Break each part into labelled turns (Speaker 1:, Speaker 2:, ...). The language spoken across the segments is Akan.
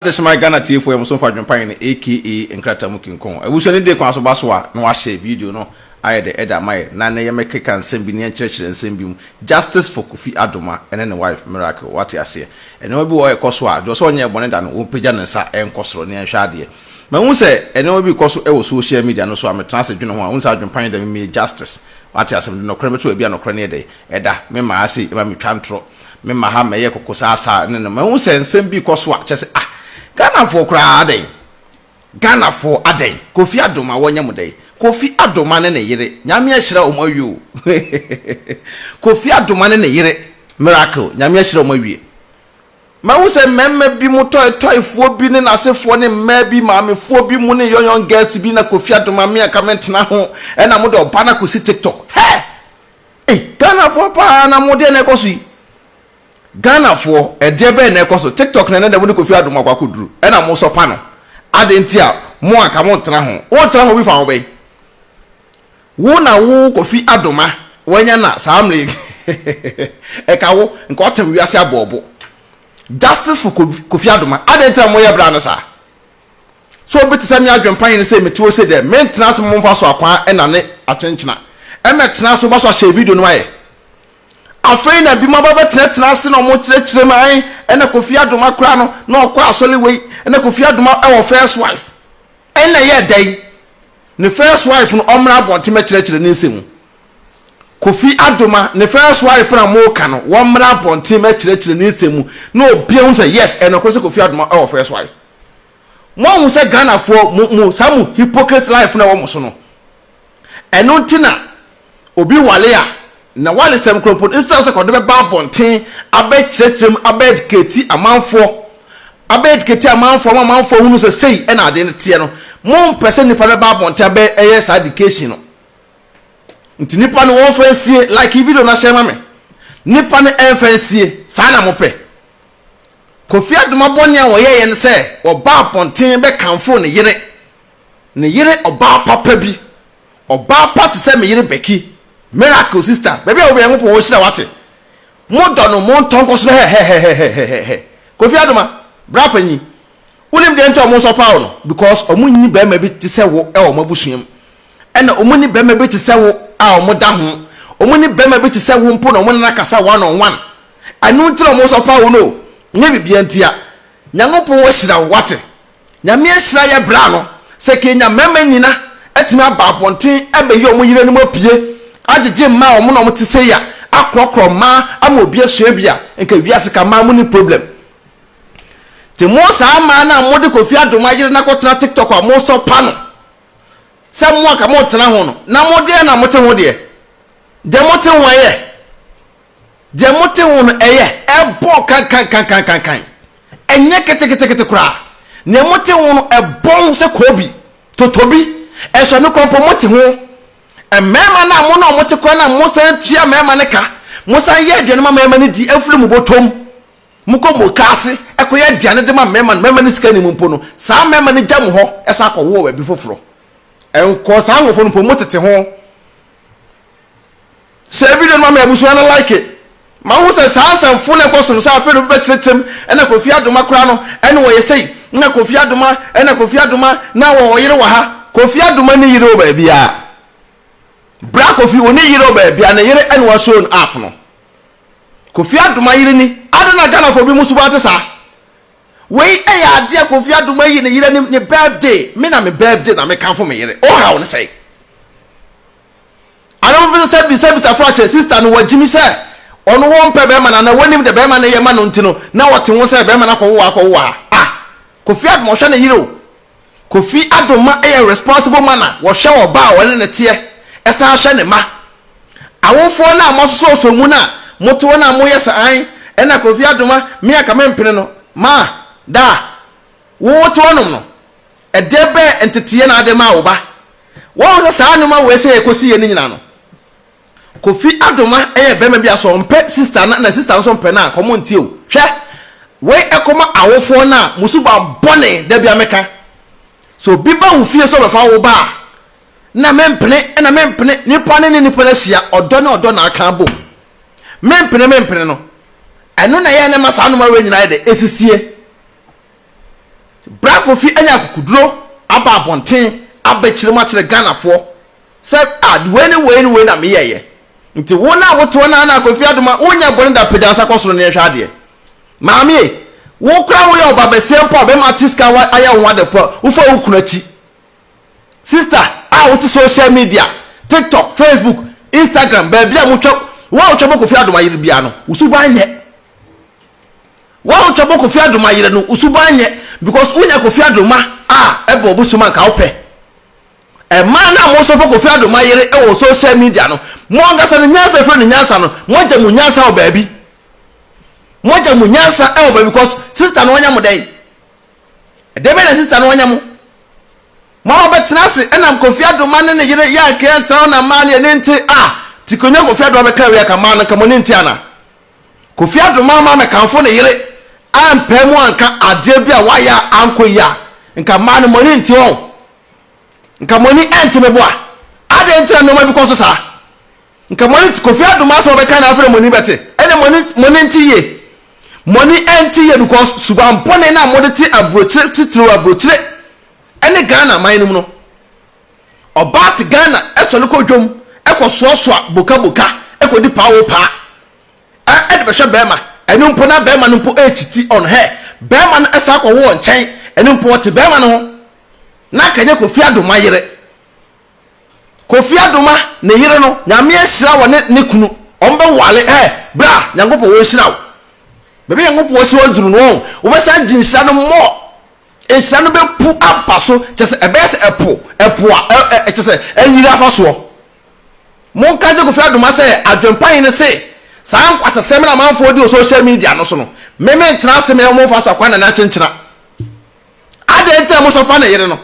Speaker 1: Adesoman Ghana Tiefo Yɛn Bo So Mfa Adwempa Yɛn aka Nkrataa Mu Kinkɔn Abusua Anidie Kwan So Ba So A Na Wɔahyɛ Video No Ayɛ Dɛ Ɛda Ama Yɛn Na Nnɛ Yɛmmɛkeka Nsɛm Bi Ne Yɛnkyerɛkyerɛ Nsɛm Bi Mu Justice For Kofi Adoma Ɛne Ne Wife Miracle Wate Aseɛ Nneɛma Bi Wɔ Hɔ A Ɛkɔ So A Gyɔɔ Sɛ Ɔnyɛ Bɔne Da No Wɔmpagya Ne Nsa Nkɔ Soro Ne Yɛnhwɛ Adeɛ Mahu Sɛ Nneɛma Bi Rekɔ So Wɔ Social Media No So A Metena Ase Dwene Ho A Wohu Sɛ Adwempa Yɛn Da Mimie Justice Wate Aseɛ Mede Nɔkorɛ Mɛto Baabi A Nɔkorɛ No Yɛ Dɛ Ɛda Me Maa Sei Ɛma Metwa Ntorɔ Me ma ha mɛyɛ koko saa saa ne no mahu sɛ nsɛm bi rekɔ so a kyɛ sɛ ah Ghana foɔ koraa adɛn Ghana foɔ adɛn Kofi Adoma wɔnyɛ mo dɛn Kofi Adoma ne ne yere Nyame ahyira wɔn awie o Kofi Adoma ne ne yere Miracle Nyame ahyira wɔn awie Mahu sɛ mmarima bi mo tɔe tɔe foɔ bi ne n'asefoɔ ne mmaa bi maame foɔ bi mo ne young young girls bi na Kofi Adoma me anka mentena ho ɛna mo de ɔba no akɔsi TikTok hɛ Ei Ghanafoɔ paa na mo deɛ na ɛkɔ so yi Ghanafoɔ ɛdeɛ bɛn na ɛkɔ so TikTok na ɛnɛ dɛ mo ne Kofi Adom akɔ akɔduru ɛna mo sɔ pa no adɛn nti a mo anka mo ntena ho wo ntena ho bi fa ho bɛn wo na wo Kofi Adom a wanya na saa mmerɛ yi ɛka wo nka ɔtɛm wiase abɔɔbo Justice for Kofi Adom adɛn nti a mo yɛ bra no saa. So obi te sɛ me adwen panyin se mete ose dɛ mentsena ase momfa so akwaa na ne akyenkyena? Ɛmɛtsena ase wɔaso ahyɛ video no ayɛ. Afei na binom aba bɛtsenatena ase na ɔmo kyerɛkyerɛ mu ae ɛna Kofi Adoma koraa no na ɔkɔ asɔle wei ɛna Kofi Adoma wɔ first wife ɛna ɛyɛ dɛn ne first wife no ɔmmra abɔnten mɛkyerɛkyerɛ ne nsɛmu Kofi Adoma ne first wife na moka no wɔmmra abɔnten mɛkyerɛkyerɛ ne nsɛmu na obia hu sɛ yes ɛnokore sɛ Kofi Adoma wɔ first wife. Moanhu sɛ Ghanafoɔ mo mo saa mo hypocrite life no a ɛwɔ mo so no ɛno nti na obi wale a na walesɛm korɔ mpo no instead sɛ kɔde bɛba abɔnten abɛkyerɛkyerɛ mu abɛ educate amanfoɔ abɛ educate amanfoɔ ama amanfoɔ ahunu sɛ sei ɛna adeɛ no teɛ no mompɛ sɛ nipa no bɛba abɔnten abɛ ɛyɛ saa education no nti nipa no wɔmfa nsie like video no ahyɛ ma me nipa no ɛmfa nsie saa na mopɛ Kofi Adoma bɔne a ɔyɛeɛ ne sɛ ɔbaa abɔnten bɛkamfoo ne yere. Ne yere ɔbaa papa bi. Ɔbaa pa te sɛ me yere Becky. Miracle sister, baabi a wo wɔ Nyankopɔn ɔhyira wo wate. Mo dɔ no mo ntɔ nkɔ so hɛhɛhɛhɛhɛhɛhɛhɛhɛ. Kofi Adoma, bra panyin. Wonim deɛ nti a ɔmo sɔpaa wo no? Because ɔmo nni barima bi te sɛ wo wɔ ɔmo abusua mu. Ɛna ɔmo nni barima bi te sɛ wo a ɔmo da ho. Ɔmo nni barima bi te sɛ wo mpo na ɔmo ne no akasa one on one. Ɛno nti na ɔmo nso afa wo no o, nyɛ biribiaa nti a. Nyankopɔn ahyira wo, wate. Nyame ahyira yɛ bra no, sɛ kenya mmarima nyina atumi aba abɔnten abɛyi ɔmo yerenom apue, agyegye mmaa a ɔmo na ɔmo te sei a, akorɔkorɔ mmaa ama obi asua bi a, nka wiase ka mmaa monni problem. Nti mo saa mmaa no a mo de Kofi Adom ayere no akɔtena TikTok a mo sɔ pa no, sɛ mo anka mo ntena ho no, na mo deɛ na mo te ho deɛ, deɛ mo te ho ɛyɛ. Deɛ mote ho no, ɛyɛ, ɛbɔ kankankankankankan. Ɛnyɛ keteketekete koraa. Deɛ mote ho no, ɛbɔn sɛ koobi, totobi, ɛsɔ no koraa mpo, mote ho. Mmarima no a mo ne wɔn te koraa no a mosan tua mmarima no ka, mosan yɛ aduane ma mmarima no di, afiri mo bɔtɔm, mokɔ mukaase kɔyɛ aduane de ma mmarima no, mmarima no sika nni mu mpo no, saa mmarima no gya mo hɔ san kɔwo wɔ baabi foforɔ. Nkɔɔ saa nkorɔfoɔ no mpo, motete ho. Share video no ma me abusua no like. Ma wohu sɛ saa nsɛmfo no ɛkɔ so no saa afei na obi bɛkyerɛkyerɛ mu ɛna Kofi Adoma koraa no ɛna ɔyɛ sei na Kofi Adoma ɛna Kofi Adoma na ɔwɔ ɔyere wɔ ha. Kofi Adoma nni yere wɔ baabiara. Bra Kofi ɔnni yere wɔ baabiara ne yere ɛna wa show no app no. Kofi Adoma yere ni adɛn na Ghanafoɔ bi mu suban te saa? Wei ɛyɛ adeɛ Kofi Adoma ayi ne yere anim ne birthday me na me birthday na me kamfo me yere. Ohaw no sɛn? Ana wo feel sɛ bisa bisa fo akyɛ sister no wa gyimi sɛ ɔno wɔ mpɛ bɛɛma no ana wanim dɛ bɛɛma no yɛ ma no nti no na ɔte ho sɛ bɛɛma no akɔ wowa akɔ wowa ha ah Kofi Adom ɔhwɛ ne yere o Kofi Adom ma yɛ responsible ma na ɔhwɛ ɔba a ɔne ne teɛ ɛsan hwɛ ne ma awofoɔ no a mo asosɔ osɔ mu no a mo te hɔ no a mo yɛ sɛ an ɛna Kofi Adom a me anka me mpene no ma da a wo wo te hɔ nom no Ɛdeɛ bɛn nteteɛ na ade maa wo ba? Woahu sɛ saa nnoɔma wei sɛ yɛkɔ si yɛ no nyina no Kofi Adoma yɛ bɛma bi a sɛ ɔmpɛ sister no a na sister no nso mpɛ no a nka ɔmo ntie o hwɛ wei ɛkɔma awofoɔ no a mo suban bɔne da bia meka sɛ obi ba wo fie sɛ ɔbɛfa wo ba a na mempene na mempene nipa no ne nipa no ahyia ɔdɔ ne ɔdɔ na aka abom mempene mempene no ɛno na ɛyɛ na ɛma saa nnoɔma wei nyina yɛ dɛ ɛsisie Bra Kofi anya akokoduro aba abɔnten abɛkyerɛ mu akyerɛ Ghanafoɔ sɛ ah wei ne wei ne wei na meyɛeɛ. Nti wo no a wote hɔ no ara no a Kofi Adoma wonyɛ bɔne da pagya wo nsa kɔ soro na yɛnhwɛ adeɛ. Maame e, wo koraa woyɛ ɔbabasia mpo a bɛrima ate sika ayɛ wo ho ade mpo a wofa wo kunu akyi. Sister a wote social media, TikTok, Facebook, Instagram baabi a motwa wo a wotwa bɔ Kofi Adoma yere biara no wo suban nyɛ. Wo a wotwa bɔ Kofi Adoma yere no wo suban nyɛ because wonya Kofi Adoma a ɛbɔ wo bosom a nka wopɛ. Ɛmaa no a mo sɔfo Kofi Adoma yere wɔ social media no mo ankasa no nyansa efiri no nyansa no mo agya mo nyansa wɔ baabi mo agya mo nyansa wɔ baabi because sister no anya mo dɛn ɛdɛn bɛyɛ na sister no anya mo mo ama bɛtena ase ɛnam Kofi Adoma ne ne yere yɛ anka yɛntena hɔ na mmaa no yɛ ne nte a ti konya Kofi Adoma bɛka wei aka mmaa no nka mo ne nte ana Kofi adom ama me kamfo ne yere ampae mu anka adeɛ bi a wayɛ a ankɔ yie a, nka mmaa no mo ani nte wɔn. Nka mo ani nte me boa. Adɛn nti na nneɛma bi kɔ so saa? Nka mo ani nte Kofi adom asɛm a ɔbɛka na afei na mo ani bɛte. Ɛnna mo ani mo ani nte yie. Mo ani nte yie because suban bɔne no a mode te aburokyire titiriw aburokyire ne Ghana man no mu no. Ɔbaa te Ghana sɔre kɔ dwam kɔ soasoa boka boka kɔ di paa o paa ɛ de bɛhwɛ bɛɛma ɛno mpo na bɛɛma no mpo ɛkyiti ɔno hɛ bɛɛma no ɛsan kɔ wɔ nkyɛn ɛno mpo ɔte bɛɛma no ho na anka nyɛ Kofi Adoma yere Kofi Adoma ne yere no nyame ahyira wɔ ne ne kunu ɔmo bɛ wale ɛ bra nyankopɔ wɔ nhyira wo bɛbi nyankopɔ si wɔ duru no wɔn wobɛsan gye nhyira no mɔ Nhyira no bɛpu aba so, kyerɛ sɛ, ɛbɛyɛ sɛ ɛpo, ɛpo a ɛ, ɛ, kyerɛ sɛ, ayiri afa soɔ. Monka nkyɛ Kofi Adomah sɛ, adwempa he ne se, saa nkwasasɛm no a amanfoɔ di wɔ social media no so no, me mentra ase me ho momfa so akwan na ne akyenkyena. Adɛn nti na mosɔfa ne yere no?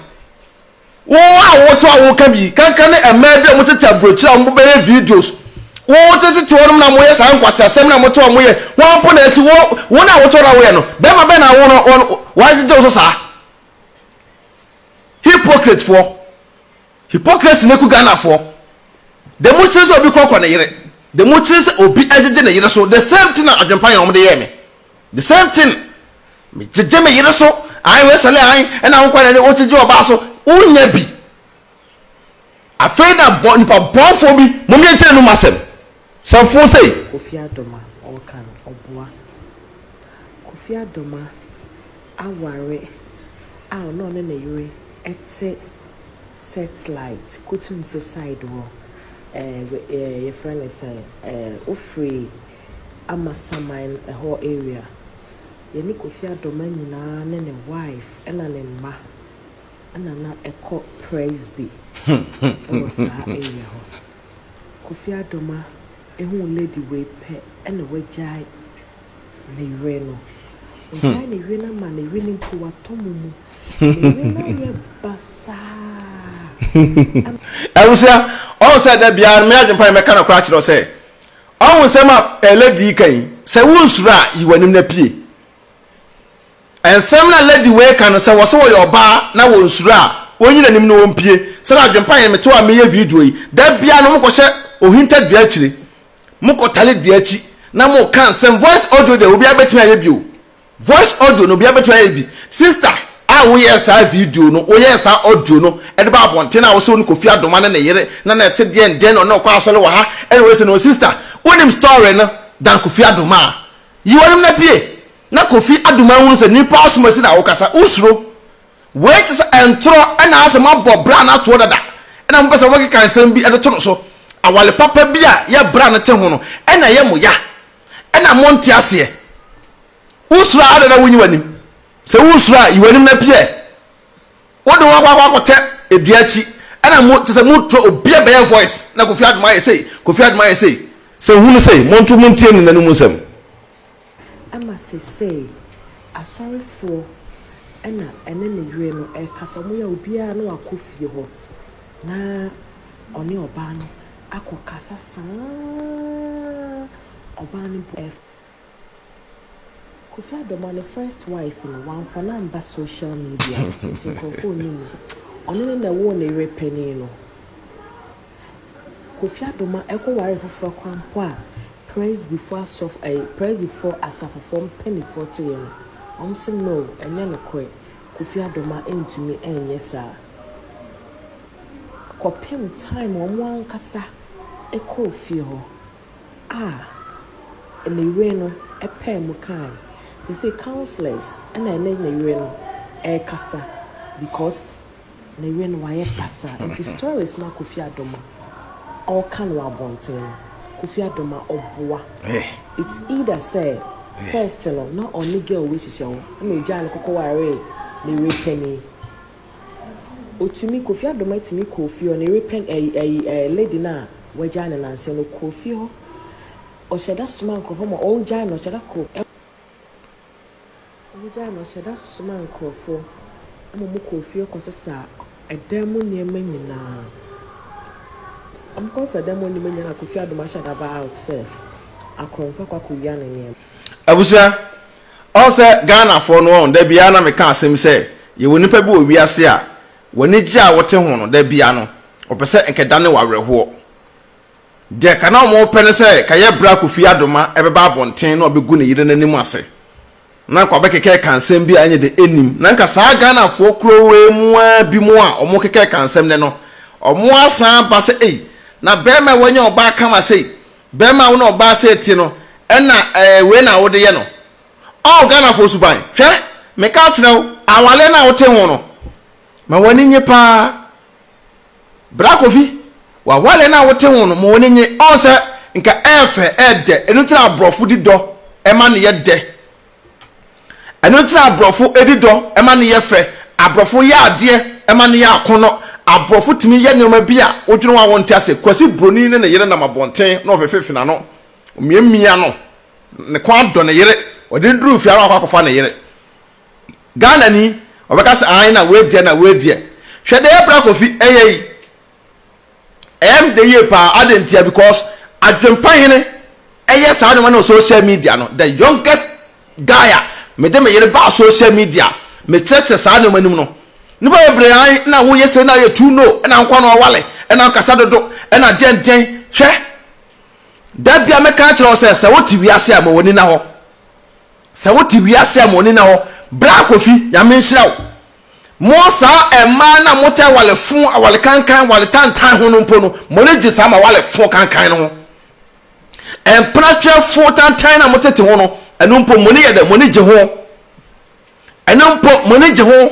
Speaker 1: Wo awoto a woka bi, kanka ne mmaa bi a wɔtete aburokyiri a wɔbɛyɛ videos. Wotetete wɔnom na wɔyɛ saa nkwaseasɛm na wɔte a wɔyɛ. Wɔn mpo na ɛti wo wo na awoto na woyɛ no. Bɛrima bɛn na awo no wɔn wɔagyegye wo so saa? Hypocrite foɔ. Hypocrisy na ɛku Ghana foɔ. De mo kyerɛ sɛ obi kɔkɔ ne yere. De mo kyerɛ sɛ obi agyegye ne yere so. The same thing na adwempa yɛ wɔn de yɛɛ me. The same thing me gyegye me yere so ae wei sɔle ae ɛna wo kwan ne wo gyegye ɔbaa so wo nya bi afei na bɔ nipa bɔnfoɔ bi mom yɛ nkyerɛ no mu asɛm sɛmfoɔ sei. Kofi Adoma
Speaker 2: ɔɔka no ɔboa. Kofi Adoma aware a ɔne ɔne ne yere ɛte setlight kotum se side hɔ ɛɛ yɛfrɛ no sɛn ɛɛ ofiri. ama saman ɛhɔ area. Yɛne Kofi Adoma nyinaa ne ne wife ɛna ne mma ɛna na ɛkɔ Presby ɛwɔ saa area hɔ. Kofi Adoma ehuu lady wei pɛ ɛna wagyae ne yere no. Wagyae ne yere no ama ne yere no mpo watɔ mu mu. Ne yere no ayɛ basaa.
Speaker 1: Abusua, ɔhu sɛ da biara no me adwempa ne mɛka nɔkora akyerɛ wo sɛ, Ɔho nsɛm a lady yi ka yi, sɛ wonsuro a yi w'anim na pue. Nsɛm no a lady wei ka no, sɛ wɔ sɛ wɔyɛ ɔbaa na wɔnsuro a, wɔnyi n'anim na wɔmpue. Sɛdeɛ adwempa yɛ no, mete hɔ a mereyɛ video yi, da biara no mokɔhyɛ ohinta dua akyire, mokɔtare dua akyi na moka nsɛm, voice audio deɛ obiara bɛtumi ayɛ bi o. Voice audio no obia bɛtumi ayɛ bi. Sister a woyɛɛ saa video no, woyɛɛ saa audio no de baa abɔnten a wose wone Kofi Adoma ne ne yere na na ɛte deɛn dɛn na ɔne no kɔ asɔre wɔ ha ɛna wei se no sister wonim story no than Kofi Adoma a yi w'anim na pie na Kofi Adoma ahunu sɛ nipa asom asi na wokasa wosuro wei te sɛ ntorɔ ɛna asɛ moabɔ bra no atoɔ dada ɛna mopɛ sɛ mokeka nsɛm bi de to no so awale papa bi a yɛ bra no te ho no ɛna ɛyɛ mo ya ɛna monte aseɛ wosuro a adɛn na wonyi w'anim sɛ wosuro a yi w'anim na pia ɛ wode wakɔ akɔ akɔtɛ edua akyi ɛna mo kyɛ sɛ motrɔ obia bɛyɛ voice na kofi adoma yɛ sei kofi adoma yɛ sei sɛ hunu sei monto montie ne n'anom nsɛm
Speaker 2: ɛma sesei asɔrefoɔ ɛna ɛne ne yere no ɛkasa ɔmo yɛ a obiaa no akɔ fie hɔ na ɔne ɔbaa no akɔ kasa saa ɔbaa no bo ɛf. Kofi Ado ma ne first wife no wamfa no amba social media nti nkorɔfoɔ nnim no. Ɔno ne na ɛwoo ne yere panin no. Kofi Ado ma ɛkɔ ware foforɔ koraa mpo a Presbyfoɔ asɔfo ɛyi Presbyfoɔ asafofoɔ mpaninfoɔ te yɛ no wɔn nso no ɛnyɛ nokorɛ Kofi Adoma ntumi nyɛ saa kɔpem time wɔn ankasa kɔɔ fie hɔ a ne yere no paa mu kaae. Seesei councillors na ɛne ne yere no ɛrekasa because. Ne yere no wayɛ pasaa nti stories na Kofi Adom a ɔka no wɔ abɔnten no Kofi Adom a ɔboa it's either sɛ first no na ɔne girl wei hyehyɛ ho ɛna ogyaa no kɔkɔ waree ne yere panin otumi Kofi Adom atumi kɔɔ fie hɔ ne yere panin ɛyi ɛyi ɛɛ lady no a wagyaa no nansa no kɔɔ fie hɔ ɔhyɛda somaa nkorɔfoɔ ma ɔgyaa no ɔhyɛda kɔɔ Wogyaa no ɔhyɛ da somaa nkurɔfo ma wɔkɔɔ fie kɔsesaa dan mu nneɛma nyinaa. Wɔkɔsesaa dan mu nneɛma nyinaa na Kofi Adom ahyɛ da baa out sɛ akorɔmfo akɔ akɔwia ne nneɛma. Abusua,
Speaker 1: ɔn sɛ Ghanafoɔ no ɔn da biaa na me ka asɛm yi sɛ yɛwɔ nipa bi wɔ wiase a w'anigyeɛ a wote ho no da biaa no ɔpɛ sɛ nkɛ dane w'awerɛhoɔ. Deɛ ka na wɔpɛ ne sɛ ka yɛ berɛ a Kofi Adoma bɛba abɔnten na wabɛgu ne yere no anim ase na anka wabɛkekɛɛka nsɛm bi a ɛnyɛ dɛ nnim. Na anka saa Ghanafoɔ kurowee mu ara binom a wɔkekɛɛka nsɛm nnɛ no, wɔasan aba sɛ ei, na barima a wanya ɔbaa kama sei, barima a wo ne ɔbaa sei te no, ɛna ɛɛ wei na wode yɛ no. Ɔɔ Ghanafoɔ suban. Hwɛ, meka akyerɛ wo, awareɛ no a wote ho no, ma w'ani nnye pa ara. Bra Kofi, w'aware no a wote ho no ma w'ani nnye. Ɔn sɛ nka ɛyɛ fɛ, ɛyɛ dɛ. Ɛno nti na aborɔfo di dɔ ma no yɛ dɛ. Ɛno nti na aborɔfo di dɔ ma no yɛ fɛ. Aborɔfo yɛ adeɛ ma no yɛ akɔnnɔ. Aborɔfo tumi yɛ nneɛma bi a wodwene ho a wonte ase. Kwasi Broni ne ne yere nam abɔnten na ɔfefefe n'ano, omiamia no, ne kɔn adɔ ne yere, ɔde no duru fie ara na wakɔ akɔfa ne yere. Ghana ni ɔbɛka sɛ aane na wei deɛ na wei deɛ hwɛ deɛ Bra Kofi ɛyɛ yi ɛyɛ me dɛ yie paa adɛn ntia because adwempa hene ɛyɛ saa nneɛma no wɔ social media no the youngest guy a mede me yere baa social media mekyerɛkyerɛ saa nneɛma no mu no nipa bebree an na woyɛ sɛ na yɛ tu no ɛna nkwa no awale ɛna nkasa dodo ɛna deɛn deɛn hwɛ da bia mɛka akyerɛ wo sɛ sɛ wote wiase a ma w'ani na hɔ Sɛ wote wiase a moni na hɔ bra kofi nyame nhyira wo mo saa ɛmaa na mo tɛ awale fo awale kankan awale tantan ho no mpo no moni gye saa ma awale fo kankan no ho ɛmpena hwɛ fo tantan na mo tete ho no ɛno mpo moni yɛ dɛ moni gye ho ɛno mpo moni gye ho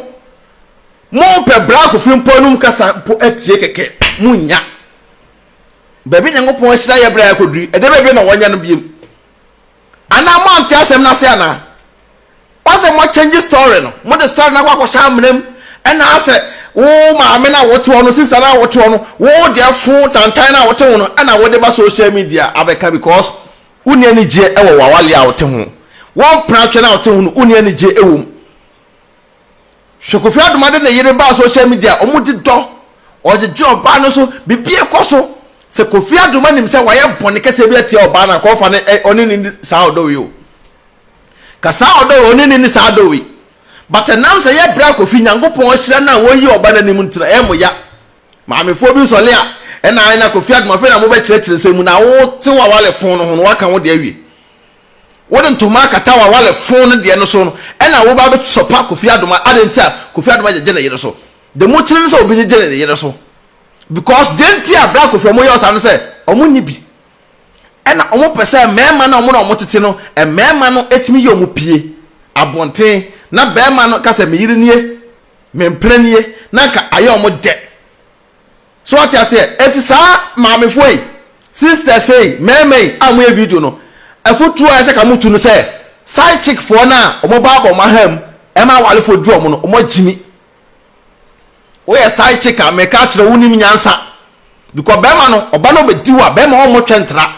Speaker 1: mo pɛ bra kofi mpo anum kasa mpo atie kɛkɛ mo nya baabi nyankopɔn ahyira yɛ bra yɛ koduri ɛdɛ baabi na wɔnyɛ no biem Anaa mo ante asɛm no ase anaa? Ɔsɛ mo change story no, mo de story no akɔ akɔhyɛ amena mu, ɛna asɛ wo maame no a wote hɔ no, sister no a wote hɔ no, wo deɛ fo tantan no a wote ho no ɛna wode ba social media abɛka because wonni anigyeɛ ɛwɔ wawale a wote ho, wo mpena atwɛ no a wote ho no wonni anigyeɛ ɛwɔ mu. Hwɛ Kofi Adoma de ne yere baa social media a ɔmo de dɔ ɔgyegye ɔbaa no so biribi ɛkɔ so sɛ Kofi Adoma nim sɛ wayɛ bɔne kɛseɛ bi atia ɔbaa no a nka ɔmfa no ɔne no nni saa ɔdɔ wei o ka saa ɔdɔ wei ɔne no nni saa ɔdɔ wei but ɛnam sɛ yɛ bra Kofi Nyankopɔn ahyira no a wɔyi ɔba no anim nti no ɛyɛ mo ya maamefoɔ bi nsɔle a ɛna ae na Kofi Adoma afei na mobɛkyerɛkyerɛ nsɛm mu na wotew awale fon no ho no waka wo deɛ awie Wode ntoma akata w'awale fon no deɛ no so no ɛna woba abɛsɔ pa Kofi Adoma adɛn nti a Kofi Adoma gyegye ne yere so de mo kyere ne sɛ obi gyegye ne yere so because deɛ nti a bra Kofi ɔmo yɛ ɔsaa ne sɛ ɔmo nni bi ɛna ɔmo pɛ sɛ mmarima no a ɔmo ne ɔmo tete no mmarima no tumi yɛ ɔmo pie abonten na barima no ka sɛ me yere nie me mpena nie na nka ayɛ ɔmo dɛ. So wate aseɛ? Enti saa maamefoɔ yi, sisters yi, mmarima yi a wɔyɛ video no, afotuo a ɛsɛ ka motu no sɛ, side chick foɔ no a wɔba abɔ wɔn ahamu ɛma awarefoɔ duru wɔn no, wɔagyimi. Woyɛ side chick a, meka akyerɛ wo, wonim nyansa. Because barima no, ɔba no bɛdi wo a, barima ɔmmɔ twɛntra.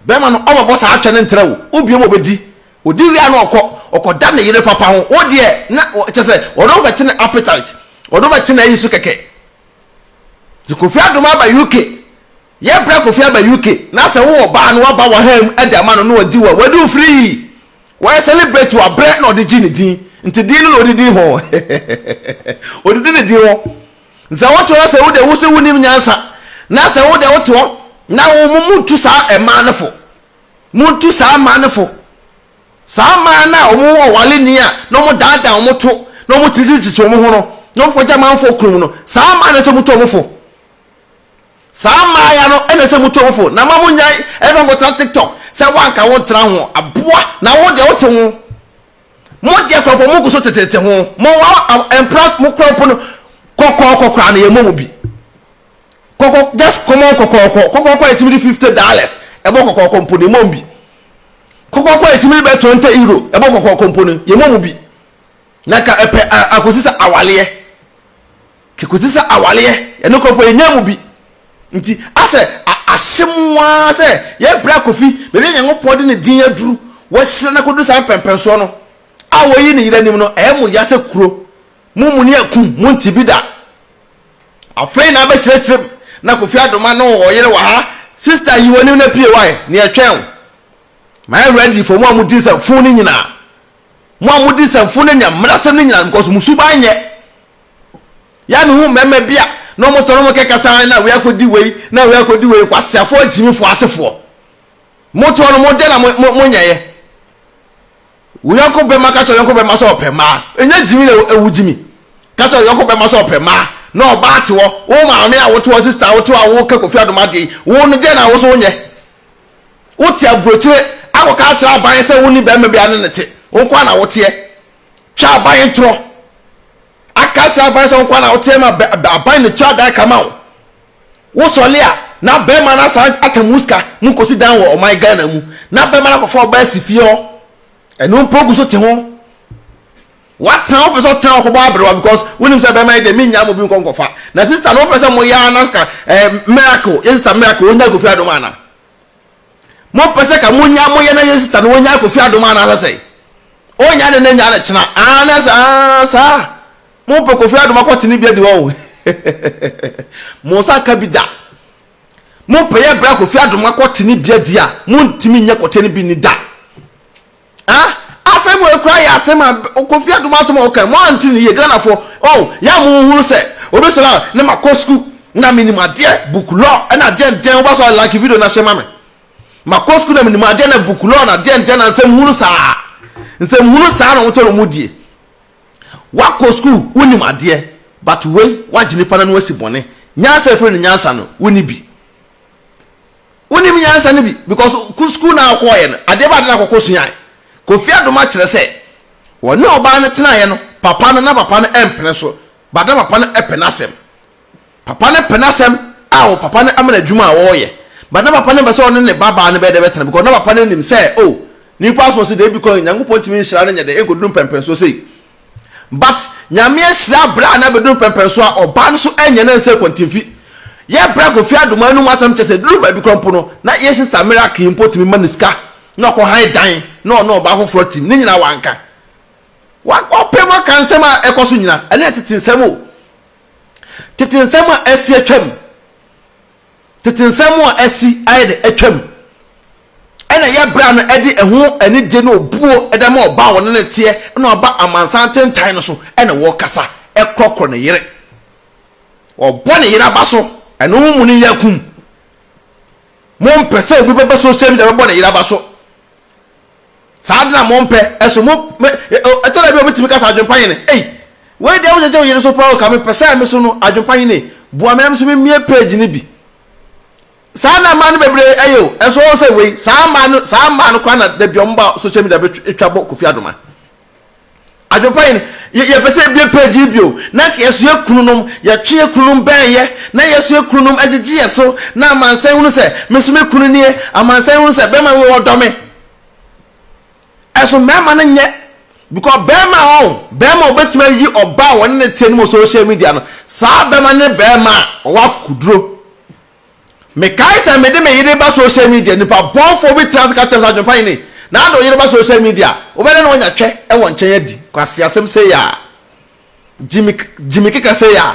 Speaker 1: Bɛrima no ɔba bɔ saa atwɛ no ntra o, wobue ma ɔbɛdi, ɔdi wie a na ɔkɔ, ɔkɔda ne yere papa ho, wo deɛ na kyɛ sɛ ɔno wobɛte ne appetite, ɔno wobɛte n'ayi so kɛkɛ. Nti Kofi Adom aba UK, yɛbrɛ Kofi aba UK, na sɛ wo ɔbaa no waba wahaa mu de ama no na wadi wa, wadi wo firii, wɔyɛ celebrate wo abrɛ na ɔde gye ne din, nti din no na ɔde di hɔ, ɔde di ne din hɔ. Sɛ wo to na sɛ wo de wo se wo nim nyansa na sɛ wo de wo toɔ na wo mo mo ntu saa mmaa no fo mo ntu saa mmaa no fo saa mmaa no a wɔn wɔ wale ni a na wɔn daadaa wɔn to na wɔn titititi wɔn ho no na wɔn kɔgya manfoɔ kurom no saa mmaa no sɛ mo to wɔn fo saa mmaa ya no ɛna sɛ mo to wɔn fo na ma mo nyan ɛfɛ nkɔtena tiktok sɛ wanka wo ntena ho aboa na wo de wo te ho Mo deɛ koraa mpo mo gu so tetete ho. Mo mpra mo koraa mpo no kɔkɔɔkɔ koraa no yɛ mɔ mo bi. Kɔkɔ just common kɔkɔɔkɔ kɔkɔɔkɔ a yɛtumi de fifty dollars ɛbɔ kɔkɔɔkɔ mpo no yɛ mɔ mo bi. Kɔkɔɔkɔ a yɛtumi de bɛ twenty euro ɛbɔ kɔkɔɔkɔ mpo no yɛ mɔ mo bi. Na nka ɛpɛ akɔsi sɛ awaleɛ. Kekɔsi sɛ awareɛ yɛn no korɔkorɔ yɛnyaa mu bi nti asɛ ahyɛ mu ara sɛ yɛbrɛ Kofi baabi a Nyankopɔn de ne din aduru wahyira no akɔduru saa mpɛnpɛnsoɔ no a wayi ne yere anim no ɛyɛ mo ya sɛ kuro mo muni akum mo nte bi da afei na abɛkyerɛkyerɛ mu na Kofi Adoma no ɔyere wɔ ha sister yi w'anim na pie wae ne ɛtwɛn wo ma yɛ ready for mo a modi nsɛmfo no nyinaa mo a modi nsɛmfo no nya mmerɛsɛm no nyinaa because mo suban nyɛ Yɛ a me hu mmarima bi a na wɔn tɔ no wɔn kɛ kasa ara na wei akɔdi wei na wei akɔdi wei nkwaseafoɔ agyimifoɔ asefoɔ. Mo toɔ no mo dɛ na mo mo nyɛyɛ. Wo yɔnko bɛma ka kyerɛ yɔnko bɛma sɛ ɔpɛ mmaa. Ɛnyɛ gyimi na ɛwu gyimi. Ka kyerɛ yɔnko bɛma sɛ ɔpɛ mmaa na ɔbaa toɔ. Wo maame a wotoɔ sista a wotoɔ a woka kofi adom adeɛ yi wo no dɛ na wo so wonyɛ. Wote aburokyire akɔka akyerɛ aban sɛ wonni bɛrima bi a ne ne te. Wo nko ara na woteɛ. twa aban yi ntorɔ aka akyerɛ aban sɛ nkwa na woteɛ ma aban ne twa adan kama wo wosɔle a na bɛrima no asan ata mu sika mu kɔsi dan wɔ ɔman Ghana mu na bɛrima no akɔfa ɔbaa si fie hɔ ɛno mpo gu so te ho watena wopɛ sɛ ɔtena ɔkɔbɔ aberewa because wonim sɛ bɛrima yi deɛ mennya mo bi nkɔ nkɔfa na sista no wopɛ sɛ moyɛ a na ka eh, miracle yɛ sista miracle ɔnya kofi adom ana Mo pɛ sɛ ka mo nya mo yɛ na yɛ sista no ɔnya kofi adom ana sɛ sɛn ɔnya ne ne nya ne kyena aa na sɛ aa saa mo pɛ kofi adom akɔ tene bi adi hɔ o mo nsa nka bi da mo pɛ yɛ bra kofi adom akɔ tene bi adi a mo ntimi nyɛ kɔtɛ ne bi ni da. Ah asɛm wei koraa yɛ asɛm a Kofi Adom asɛm a ɔka mo ante no yie Ghanafoɔ oh yɛ a mo nhunu sɛ obi sɔre a na ma kɔ sukuu na me nim adeɛ book law ɛna adeɛ ntɛn woba so a like video no ahyɛ ma me ma kɔ sukuu na me nim adeɛ na book law na adeɛ ntɛn na nsɛm hunu saa nsɛm hunu saa na wɔn kyɛ na wɔn die wakɔ sukuu wo nim adeɛ but wei wagye nipa na no asi bɔne nyansa efiri no nyansa no wo ni bi. wonim nyansa no bi because ko school na ɔkɔɔyɛ no adeɛ ba ade na akɔkɔ suae Kofi Adom akyerɛ sɛ wɔne ɔbaa no tenaeɛ no papa no na papa no ɛmpene so but na papa no ɛpɛ n'asɛm papa no pɛ n'asɛm a wɔ papa no ama no adwuma a ɔɔyɛ but na papa no mpɛ sɛ ɔne ne ba baa no bɛyɛ dɛ bɛtena because na papa no nim sɛ oh nipa aso se deɛ ebi kɔ Nyankopɔn ntumi nhyira no nyɛ dɛ ɛnkɔduru mpɛmpɛnsoɔ sei But Nyame ahyira bra na bɛduru pɛmpɛn so a ɔbaa no so ɛnyɛ na nsɛ kwantinfi. Yɛ bra Kofi Adoma anum asɛm kyɛ sɛ ɛduru baabi kora mpo no na yɛ sister Miracle yi mpo tumi ma no sika na ɔkɔ han dan na ɔne ɔbaa foforɔ tim ne nyinaa wanka. Wa ɔpɛ mu aka nsɛm a ɛkɔ so nyinaa ɛno yɛ tete nsɛm o. Tete nsɛm a asi atwam. tete nsɛm a asi ayɛ dɛ atwam, ɛnna ɛyɛ bere a ɛde ɛho anigye ne obuo da ma ɔbaa a ɔne no teɛ na waba amansan atentan no so na wɔkasa, ɛkorɔkorɔ ne yere, ɔbɔ ne yere aba so. Ɛno mo mu no yɛ akum. Mompɛ sɛ obi bɛba social media bɛbɔ ne yere aba so. Saa ade no a mompɛ so mo me ɛtɔ da bi a obi tumi ka sɛ adwempa hene ei wei deɛ wogyagya wo yere so paa o ka mepɛ sɛ me so no adwempa hene boa me na me so memmie page no bi saa na mmaa no bebree ɛyɛ o ɛnso wɔn sɛ wei saa mmaa no saa mmaa no koraa na dabi wɔn ba social media bɛtwa bɔ kofi adoma Adwopa yi no, yɛpɛ sɛ yɛbue page yi bio na yɛsoɛ kununom. Yɛtweɛ kununom bɛɛyɛ na yɛsoɛ kununom agyegye yɛn so na amansan hunu sɛ me nso me kunu nie. Amansan hunu sɛ bɛɛma wei ɔdɔ me. Ɛso mɛɛma no nyɛ because bɛɛma a ɔn, bɛɛma a ɔbɛtumi ayi ɔbaa a wɔne no teɛ no mu wɔ social media no, saa bɛɛma no ne bɛɛma a ɔwɔ akokoduro. Mekae sɛ mede me yere ba social media, nipa bɔnfoɔ bi tena ase ka kyerɛ me sɛ Adwempa Hene, na ade wo yere ba social media a, wobɛda na wanya twɛ wɔ nkyɛn adi, kwaseasɛm sei a, gyimi gyimi keka sei a.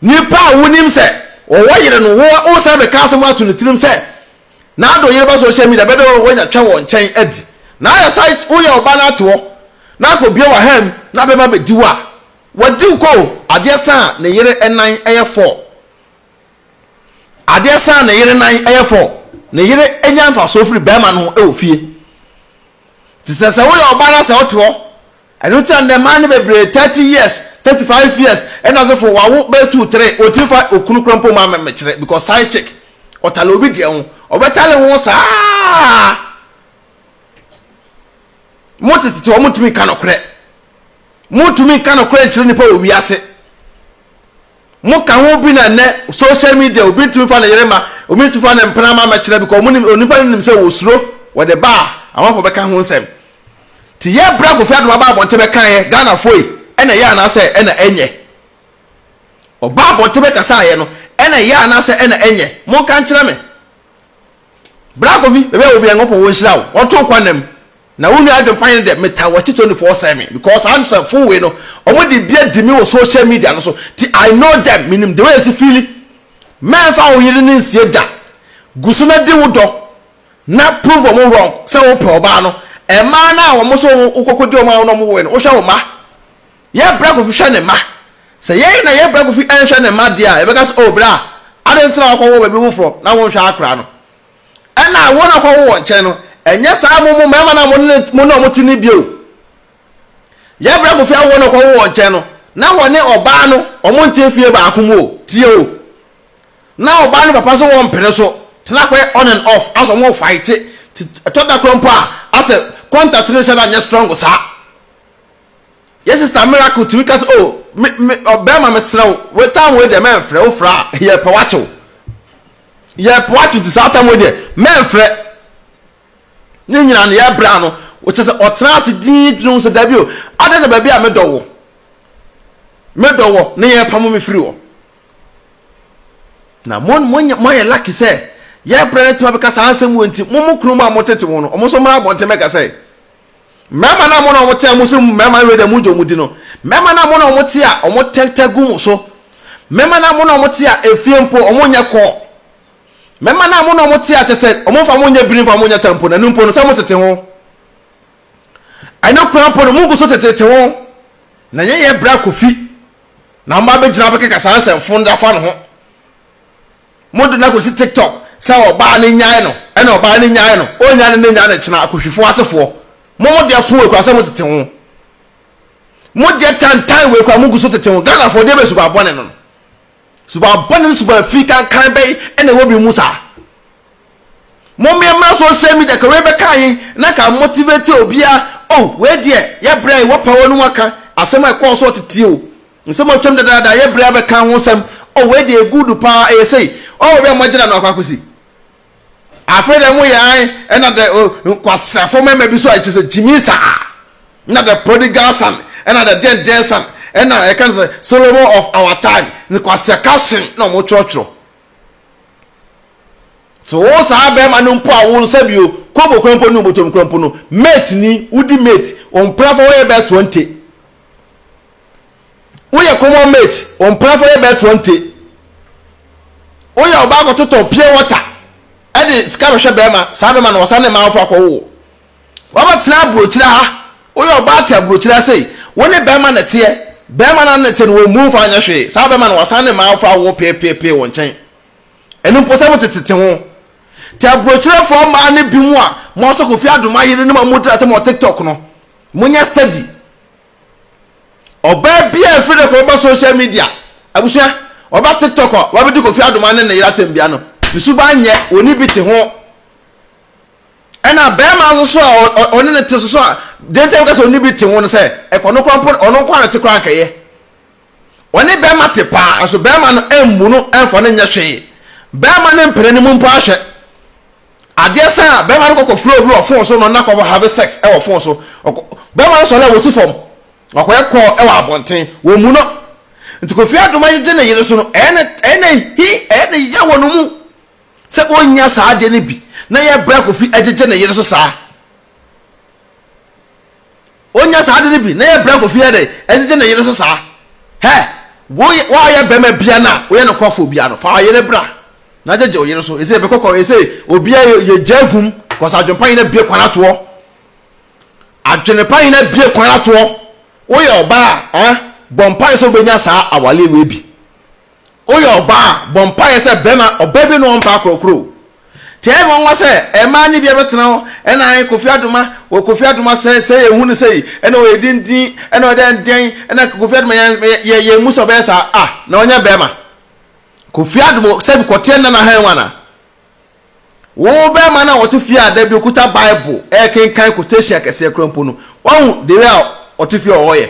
Speaker 1: Nipa a wonim sɛ ɔwɔ yere no, wo wosan bɛka asɛm ato ne tirim sɛ, na ade wo yere ba social media, bɛda na wanya twɛ wɔ nkyɛn adi. Na ayɛ saa, woyɛ ɔbaa na ate hɔ, na akɔbue w'aha mu, na bɛma bɛdi wo a, Wadiw kɔ o, adeɛ sa a ne yere nan yɛ fɔɔ. Adeɛ sa a ne yere nan yɛ fɔɔ. Ne yere nya mfasoɔ firi barima no ho wɔ fie. Nti sɛ sɛ woyɛ ɔbaa na sɛ wote hɔ, ɛno nti na nnɛ mmaa no bebree thirty years, thirty five years, ɛna ase fo wawo bɛyɛ two three, wɔntumi fa okunu koraa mpo mma mmekyerɛ because side chick, ɔtale obi deɛ ho, ɔbɛtale ho saa. Mo tete te hɔ, montumi nka nokorɛ. Montumi nka nokorɛ nkyerɛ nnipa wɔ wiase. Moka ho bi na nnɛ social media obi ntumi fa ne yere ma obi ntumi fa ne mpena ma mɛkyerɛ bi kɔ ɔmo onipa no nim sɛ wɔsuro wɔde ba a amanfoɔ bɛka ho nsɛm. Ti yɛ berɛ a Kofi Adom aba abɔnten bɛkaeɛ Ghanafoɔ yi ɛna ɛyɛ anaasɛ ɛna ɛnyɛ? Ɔbaa abɔnten bɛkasaeɛ no ɛna ɛyɛ anaasɛ ɛna ɛnyɛ? Monka nkyerɛ me. Bra Kofi baabi a wɔ bia Nyankopɔn wɔnhyira wo ɔnto wo kwan nam. Na wo nua adwenpan ne dɛ metaa wɔakyi twenty four seven because saa nsɛmfoo wei no ɔmo de bi adi me wɔ social media no so nti I know them menim dewei yɛsi fiili mɛnfa wo yere no nsie da guso na di wo dɔ na prove ɔmo wrong sɛ wo pɛ ɔbaa no ɛmaa no a wɔn so wo kɔkɔ di ɔmo a wo na ɔmo woe no wo hwɛ wo ma yɛ bra kofi hwɛ ne ma sɛ yɛn na yɛ bra kofi ɛnhwɛ ne ma deɛ a yɛbɛka sɛ oh bra adɛn nti na wakɔ wo baabi woforɔ na wo nhwɛ akora no ɛna wɔn a wɔkɔwo wɔn nkyɛn no, ɛnyɛ saa mo mo mmarima no a mo ne mo ne wɔn te no bio. Yɛbrɛ kofi awo wɔn a wɔkɔwo wɔn nkyɛn no, na wɔne ɔbaa no wɔn nte fie baako mu o, tie o. Na ɔbaa no papa so wɔmpene so, tena kɔɛ on and off, asɛ wɔn fight, ɛtɔ da kora mpo a, asɛ contact no nhyɛ da nyɛ strong saa. Yɛ sister miracle tumi ka sɛ oh me me ɔbɛrima me serɛ wo wei tam wei deɛ mɛnfrɛ wo frɛ a yɛpɛ wakyew yɛpɛ wakyew ti saa tam wei deɛ mɛnfrɛ ne nyinaa no yɛbrɛ ano wɔkyɛ sɛ ɔtena ase dii dwene ho sɛ dabi o adɛn na baabi a medɔ wɔ medɔ wɔ ne yɛpamo me firi hɔ na mo mo moayɛ lucky sɛ yɛbrɛ ne tema bɛka saa nsɛm wɔ nti mo mo kunu mu a motete ho no ɔmo nso mmra abɔnten bɛka sɛ Mmarima no a mo na wɔte a mose mmarima no reda mu dwa wɔn di no, mmarima no a mo na wɔte a wɔtɛntɛ gu mo so, mmarima no a mo na wɔte a efie mpo wɔnyɛ kɔ, mmarima no a mo na wɔte a kyɛ sɛ wɔmfa mo nyɛ biri mfa mo nyɛ ta mpo, na ɛno mpo no sɛ motete ho. Ɛno koraa mpo no, mogu so tetete ho, na ɛnyɛ yɛ berɛ a kofi na wɔba abɛgyina abɛkeka saa nsɛmfo no de afa no ho. Mode no akɔsi tiktok sɛ ɔbaa no nyae no ɛna ɔbaa no nyae no ɔnnya no nnɛ nnya no kyena akohwifoɔ asefoɔ mo mo deɛ so wei koraa sɛ mo tete ho mo deɛ tantan wei koraa mo gu so tete ho Ghanafoɔ deɛ bɛ suba bɔne no no suba bɔne no suba firi kankan bɛyi ɛna ɛwɔ bi mu saa mo mmea mmra social media ka wei bɛka yi na ka motivate obiara oh wei deɛ yɛ brɛ wɔ pa wɔ no mu aka asɛm a ɛkɔɔ so ɔtete o Nsɛm a otwam dedaada a yɛbrɛ abɛka ho nsɛm, Oh, wei deɛ good paa, ɛyɛ sei, Oh, baabi a moagyina no akɔ akɔsi. Afei deɛ moyɛ ae, ɛna dɛ oh, nkwaseafo mmarima bi so a ɛkyerɛ sɛ gyimii saa, ɛna dɛ prodigal son, ɛna dɛ deɛn deɛn son, ɛna yɛka no sɛ Solomon of our time, nkwasea caption na wɔtwerɛtwerɛ. So wo saa bɛrima no mpo a wo nsa bi o, kobo kura mpo ne obotom kura mpo no, mate ni, wodi mate, wo mprafo wɔyɛ bɛɛ 20. woyɛ common mate wɔn mprafo yɛ bɛɛ twenty woyɛ ɔbaa kɔtotɔ pure water ɛde sika bɛhwɛ bɛrima saa bɛrima na wɔsan ne mmaa afɔ akɔwo wɔbɛtena aburokyire ha woyɛ ɔbaa te aburokyire ha sei wo ne bɛrima na teɛ bɛrima na ne te no wɔn mu fa nyɛ hwee saa bɛrima na wɔsan ne mmaa afɔ awo peepeepee wɔn nkyɛn ɛnu mpo sɛ mo tetete ho te aburokyerefoɔ mmaa no bi mu a mo asɔkofie adoma yere no ma mo dira sɛ mo wɔ tiktok no mo nyɛ steady Ɔbaa bi a efiri ne kɔn ba social media, abusua, ɔba tiktok a wabedi Kofi Adoma ne ne yere atɛnbia no, ne suban nyɛ wɔn ni bi te ho. Ɛna bɛrima nso so a ɔne ne te so so a deɛ nti a meka sɛ ɔne bi te ho no sɛ ɛkɔ no kora mpo ɔno nko a na te kora nkɛyɛ. Ɔne bɛrima te paa nso bɛrima no mmu no mfa no nyɛ hwee. Bɛrima no mpene ne mu mpo ahwɛ. Adeɛ sɛn a, bɛrima no kɔ kɔ firi obi wɔ fon so no na kɔ have sex wɔ fon so. Ɔkɔ, bɛrima no sɔre a wɔsi fam. Ɔkɔ yɛ call wɔ abɔnten. Wɔ mu no. Nti Kofi Adom agyegye ne yere so no, ɛyɛ ne, ɛyɛ ne he, ɛyɛ ne ya wɔ ne mu sɛ ɔnnya saa adeɛ no bi na yɛbrɛ Kofi agyegye ne yere so saa. ɔnya saa ade no bi na yɛbrɛ kɔ fie yɛde ɛgyegye ne yere so saa hɛ woyɛ woayɛ bɛrima bia no a woyɛ no kɔfoɔ bia no fa ɔyere bra na gyegye ɔyere so ɛsɛ yɛbɛkɔ kɔ ɛsɛ obia yɛ gya agum kɔsɛ adwene pa nyina bie kwan atoɔ adwene pa nyina bie kwan atoɔ woyɛ ɔbaa a bɔ mpae sɛ wobɛnya saa awaleɛ wei bi Woyɛ ɔbaa a, bɔ mpaeɛ sɛ bɛrima, ɔbaa bi ne wɔn mpaa korɔkorɔ o. Taa mu nwa sɛ mmaa ne bia bɛtena hɔ, ɛna ae Kofi Adoma, wɔ Kofi Adoma sɛ, sɛ yɛ hu no sɛ yi, ɛna ɔyɛ dindin, ɛna ɔyɛ dɛn dɛn, ɛna Kofi Adoma yɛn, yɛ, yɛn mu sɛ ɔbɛyɛ saa, ah, na ɔnyɛ bɛrima. Kofi Adoma, sɛ bi kɔteɛ nna na hɛn wana? Wo bɛrima na ɔte fie a da bi okuta Bible, ɛɛkenkan quotation akɛseɛ kora mpo no, wahu the way a ɔte fie a ɔyɛ.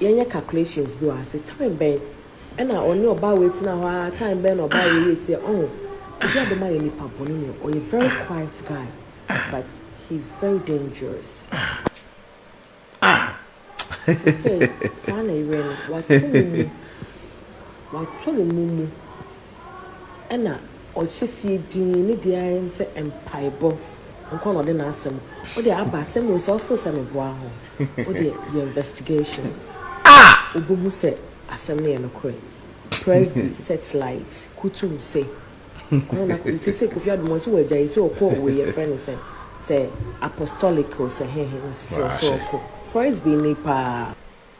Speaker 2: yɛnyɛ calculations bi wɔ ha se time bɛn ɛna ɔne ɔbaa wei tena hɔ aa time bɛn na ɔbaa wei yɛ sei ɛ ɔho obi a bɛma yɛ nipa bɔne ni ɔyɛ very quiet guy but he is very dangerous sesei saa na yerɛ no wato no mu wato no mu mu. ɛna ɔhyɛ fie dinn, ne deɛ ara ne sɛ mpaebɔ nkoa na ɔde n'asɛm, wo deɛ aba asɛm wei so a wosɛ sɛ meboa ho, wo deɛ yɛ investigations a wobɛhu sɛ asɛm no yɛ nokorɛ, Presby Searchlight kutu nse, ɔno na kɔ, seisei Kofi Adom ɔse wagyae, seisei ɔkɔ wei yɛfrɛ no sɛn, sɛ Apostolic o sɛ hehe na seisei ɔse ɔkɔ, Presby ni paa.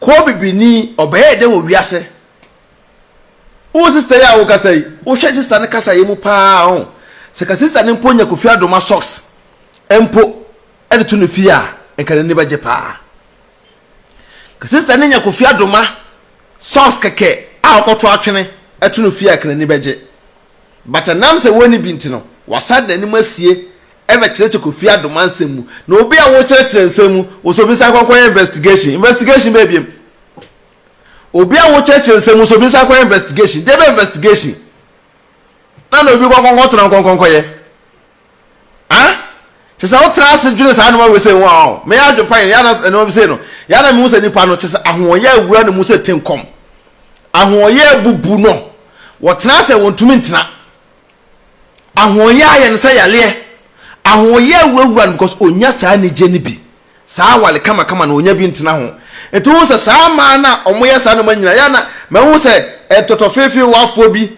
Speaker 1: Kɔɔ bibini, ɔbɛyɛɛ dɛ wɔ wiase. Wo sista yi a wo kasa yi, wo hwɛ sista no kasa yɛ mu paa a ho. Sɛ ka sista no mpo nya Kofi Adoma socks mpo de to ne fie a, nka n'ani bɛgye paa. Ka sista no nya Kofi Adoma socks kɛkɛ a ɔkɔto atwene to no fie a, nka n'ani bɛgye. But ɛnam sɛ wɔnni bi nti no, wɔasan de n'anim asie rebɛkyerɛkyerɛ Kofi Adoma nsɛm mu. Na obi a wokyerɛkyerɛ nsɛm mu, wo nso fi san kɔkɔyɛ investigation. Investigation bɛyɛ biam? Obi a wokyerɛkyerɛ nsɛm mu nso fi san kɔyɛ investigation. Deɛ bɛ investigation? Na na obi kɔnkɔnkɔtena nkɔnkɔnkɔyɛ. Ah! Kyerɛ sɛ wotra ase dwene saa nnoɔma wei sɛ ho a, ɔɔ, mɛyɛ adwempa yɛn, yɛ ana nnoɔma bi sei no, yɛ ana mehu sɛ nnipa no, kyerɛ sɛ ahoɔyɛ awura ne mu sɛ tenkɔm. Ahoɔyɛ abubu no, wɔtena ase a wɔntumi ntena. Ahoɔyɛ ayɛ no sɛ yareɛ. Ahoɔyɛ awurawura no because ɔnya saa anigye no bi. Saa awale kamakama no ɔnya bi ntena ho. Nti wohu sɛ saa mmaa no a wɔyɛ saa nnoɔma nyinaa, yɛ ana mahu sɛ ntɔtɔfeefeewafoɔ bi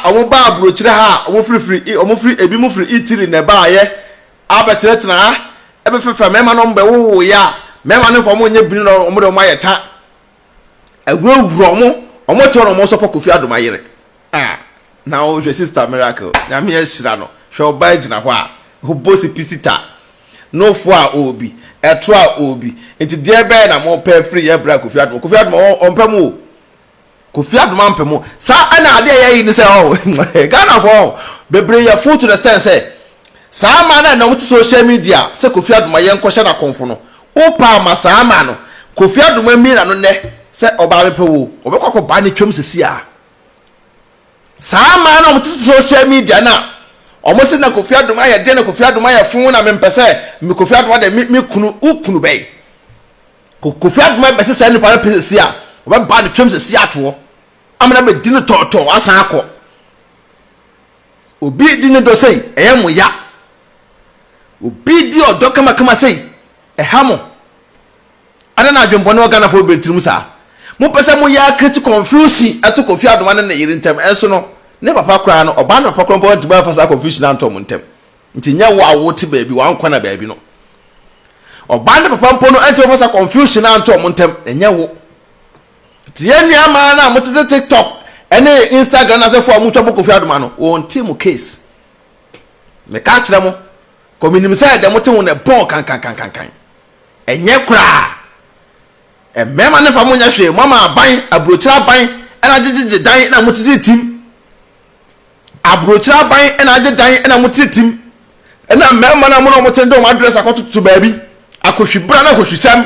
Speaker 1: a wɔbaa aburokyire ha a wɔfirifiri i wɔfiri ebi mu firi Italy na ɛbaayɛ abɛtenatena ha ɛbɛfɛfɛ mmarima na wɔbɛwowoeɛ a mmarima no fa wɔn nyɛ bini na wɔde wɔn ayɛ ta awurawura wɔn wɔn tɔ na wɔn sɔpɔ Kofi Adom ayere ah na wɔhwɛ sister miracle nyame ahyira no hwɛ ɔbaa gyina hɔ a ɔbɔ si pisita nofo a ɔɔbi ɛto a ɔɔbi nti deɛ bɛyɛ na mopɛ firi yɛ bra Kofi Adom Kofi Adom ɔmpɛ mu o Kofi Adoma Mpemo saa ɛna adeɛ yɛ yi ne sɛ ɔho Ghana fɔ ɔho bebree yɛ full to the stand sɛ saa ma na ɛna wɔn te social media sɛ Kofi Adoma yɛn nkɔhyɛ na kɔnfo no wo pa ama saa ma no Kofi Adoma mie na no nɛ sɛ ɔbaa bɛpɛ wo ɔbɛkɔ akɔ baa ne twam sisi a saa ma na wɔn te social media na wɔn se na Kofi Adoma yɛ deɛ na Kofi Adoma yɛ fun na mempɛ sɛ me Kofi Adoma de me me kunu wo kunu bɛyi Ko Kofi Agmah bɛse saa nipa no pɛ sɛsi a, ɔbɛba ne twam sɛsi atoɔ, ama no abɛdi no tɔɔtɔɔ asan akɔ. Obi di ne dɔ sei, ɛyɛ mo ya. Obi di ɔdɔ kamakama sei, ɛha mo. Adɛn na adwenbɔne wɔ Ghanafoɔ bebree tirim saa? Mopɛ sɛ moyɛ create confusion ɛto Kofi Adomah ne ne yere ntam, ɛnso no, ne papa koraa no, ɔbaa ne papa koraa mpo antumi amfa saa confusion antɔ mo ntam. Nti nyɛ wo a wote baabi w'ankɔ na baabi no ɔbaa ne papa mpo no ɛntumi fa sa confusion a nto ɔmo ntɛm na nyɛ wo. Nti yɛ nua maa no a mo tete tiktok ɛne instagram na sɛfo a mo twa bɔ kofi adoma no wɔn ti mo case. Me ka kyerɛ mo kɔ me nim sɛ ɛdɛ mo te ho na ɛbɔn kankankankankan. Ɛnyɛ koraa. Ɛmɛɛma ne fa mo nyɛ hwee mo ama aban aburokyerɛ aban ɛna gyegyegye dan na mo tete tim. Aburokyire aban na agye dan na mote tim na mmarima no a mo ne wɔn te no de wɔn address akɔtototo baabi. Akɔhwibra ne ahɔhwisɛm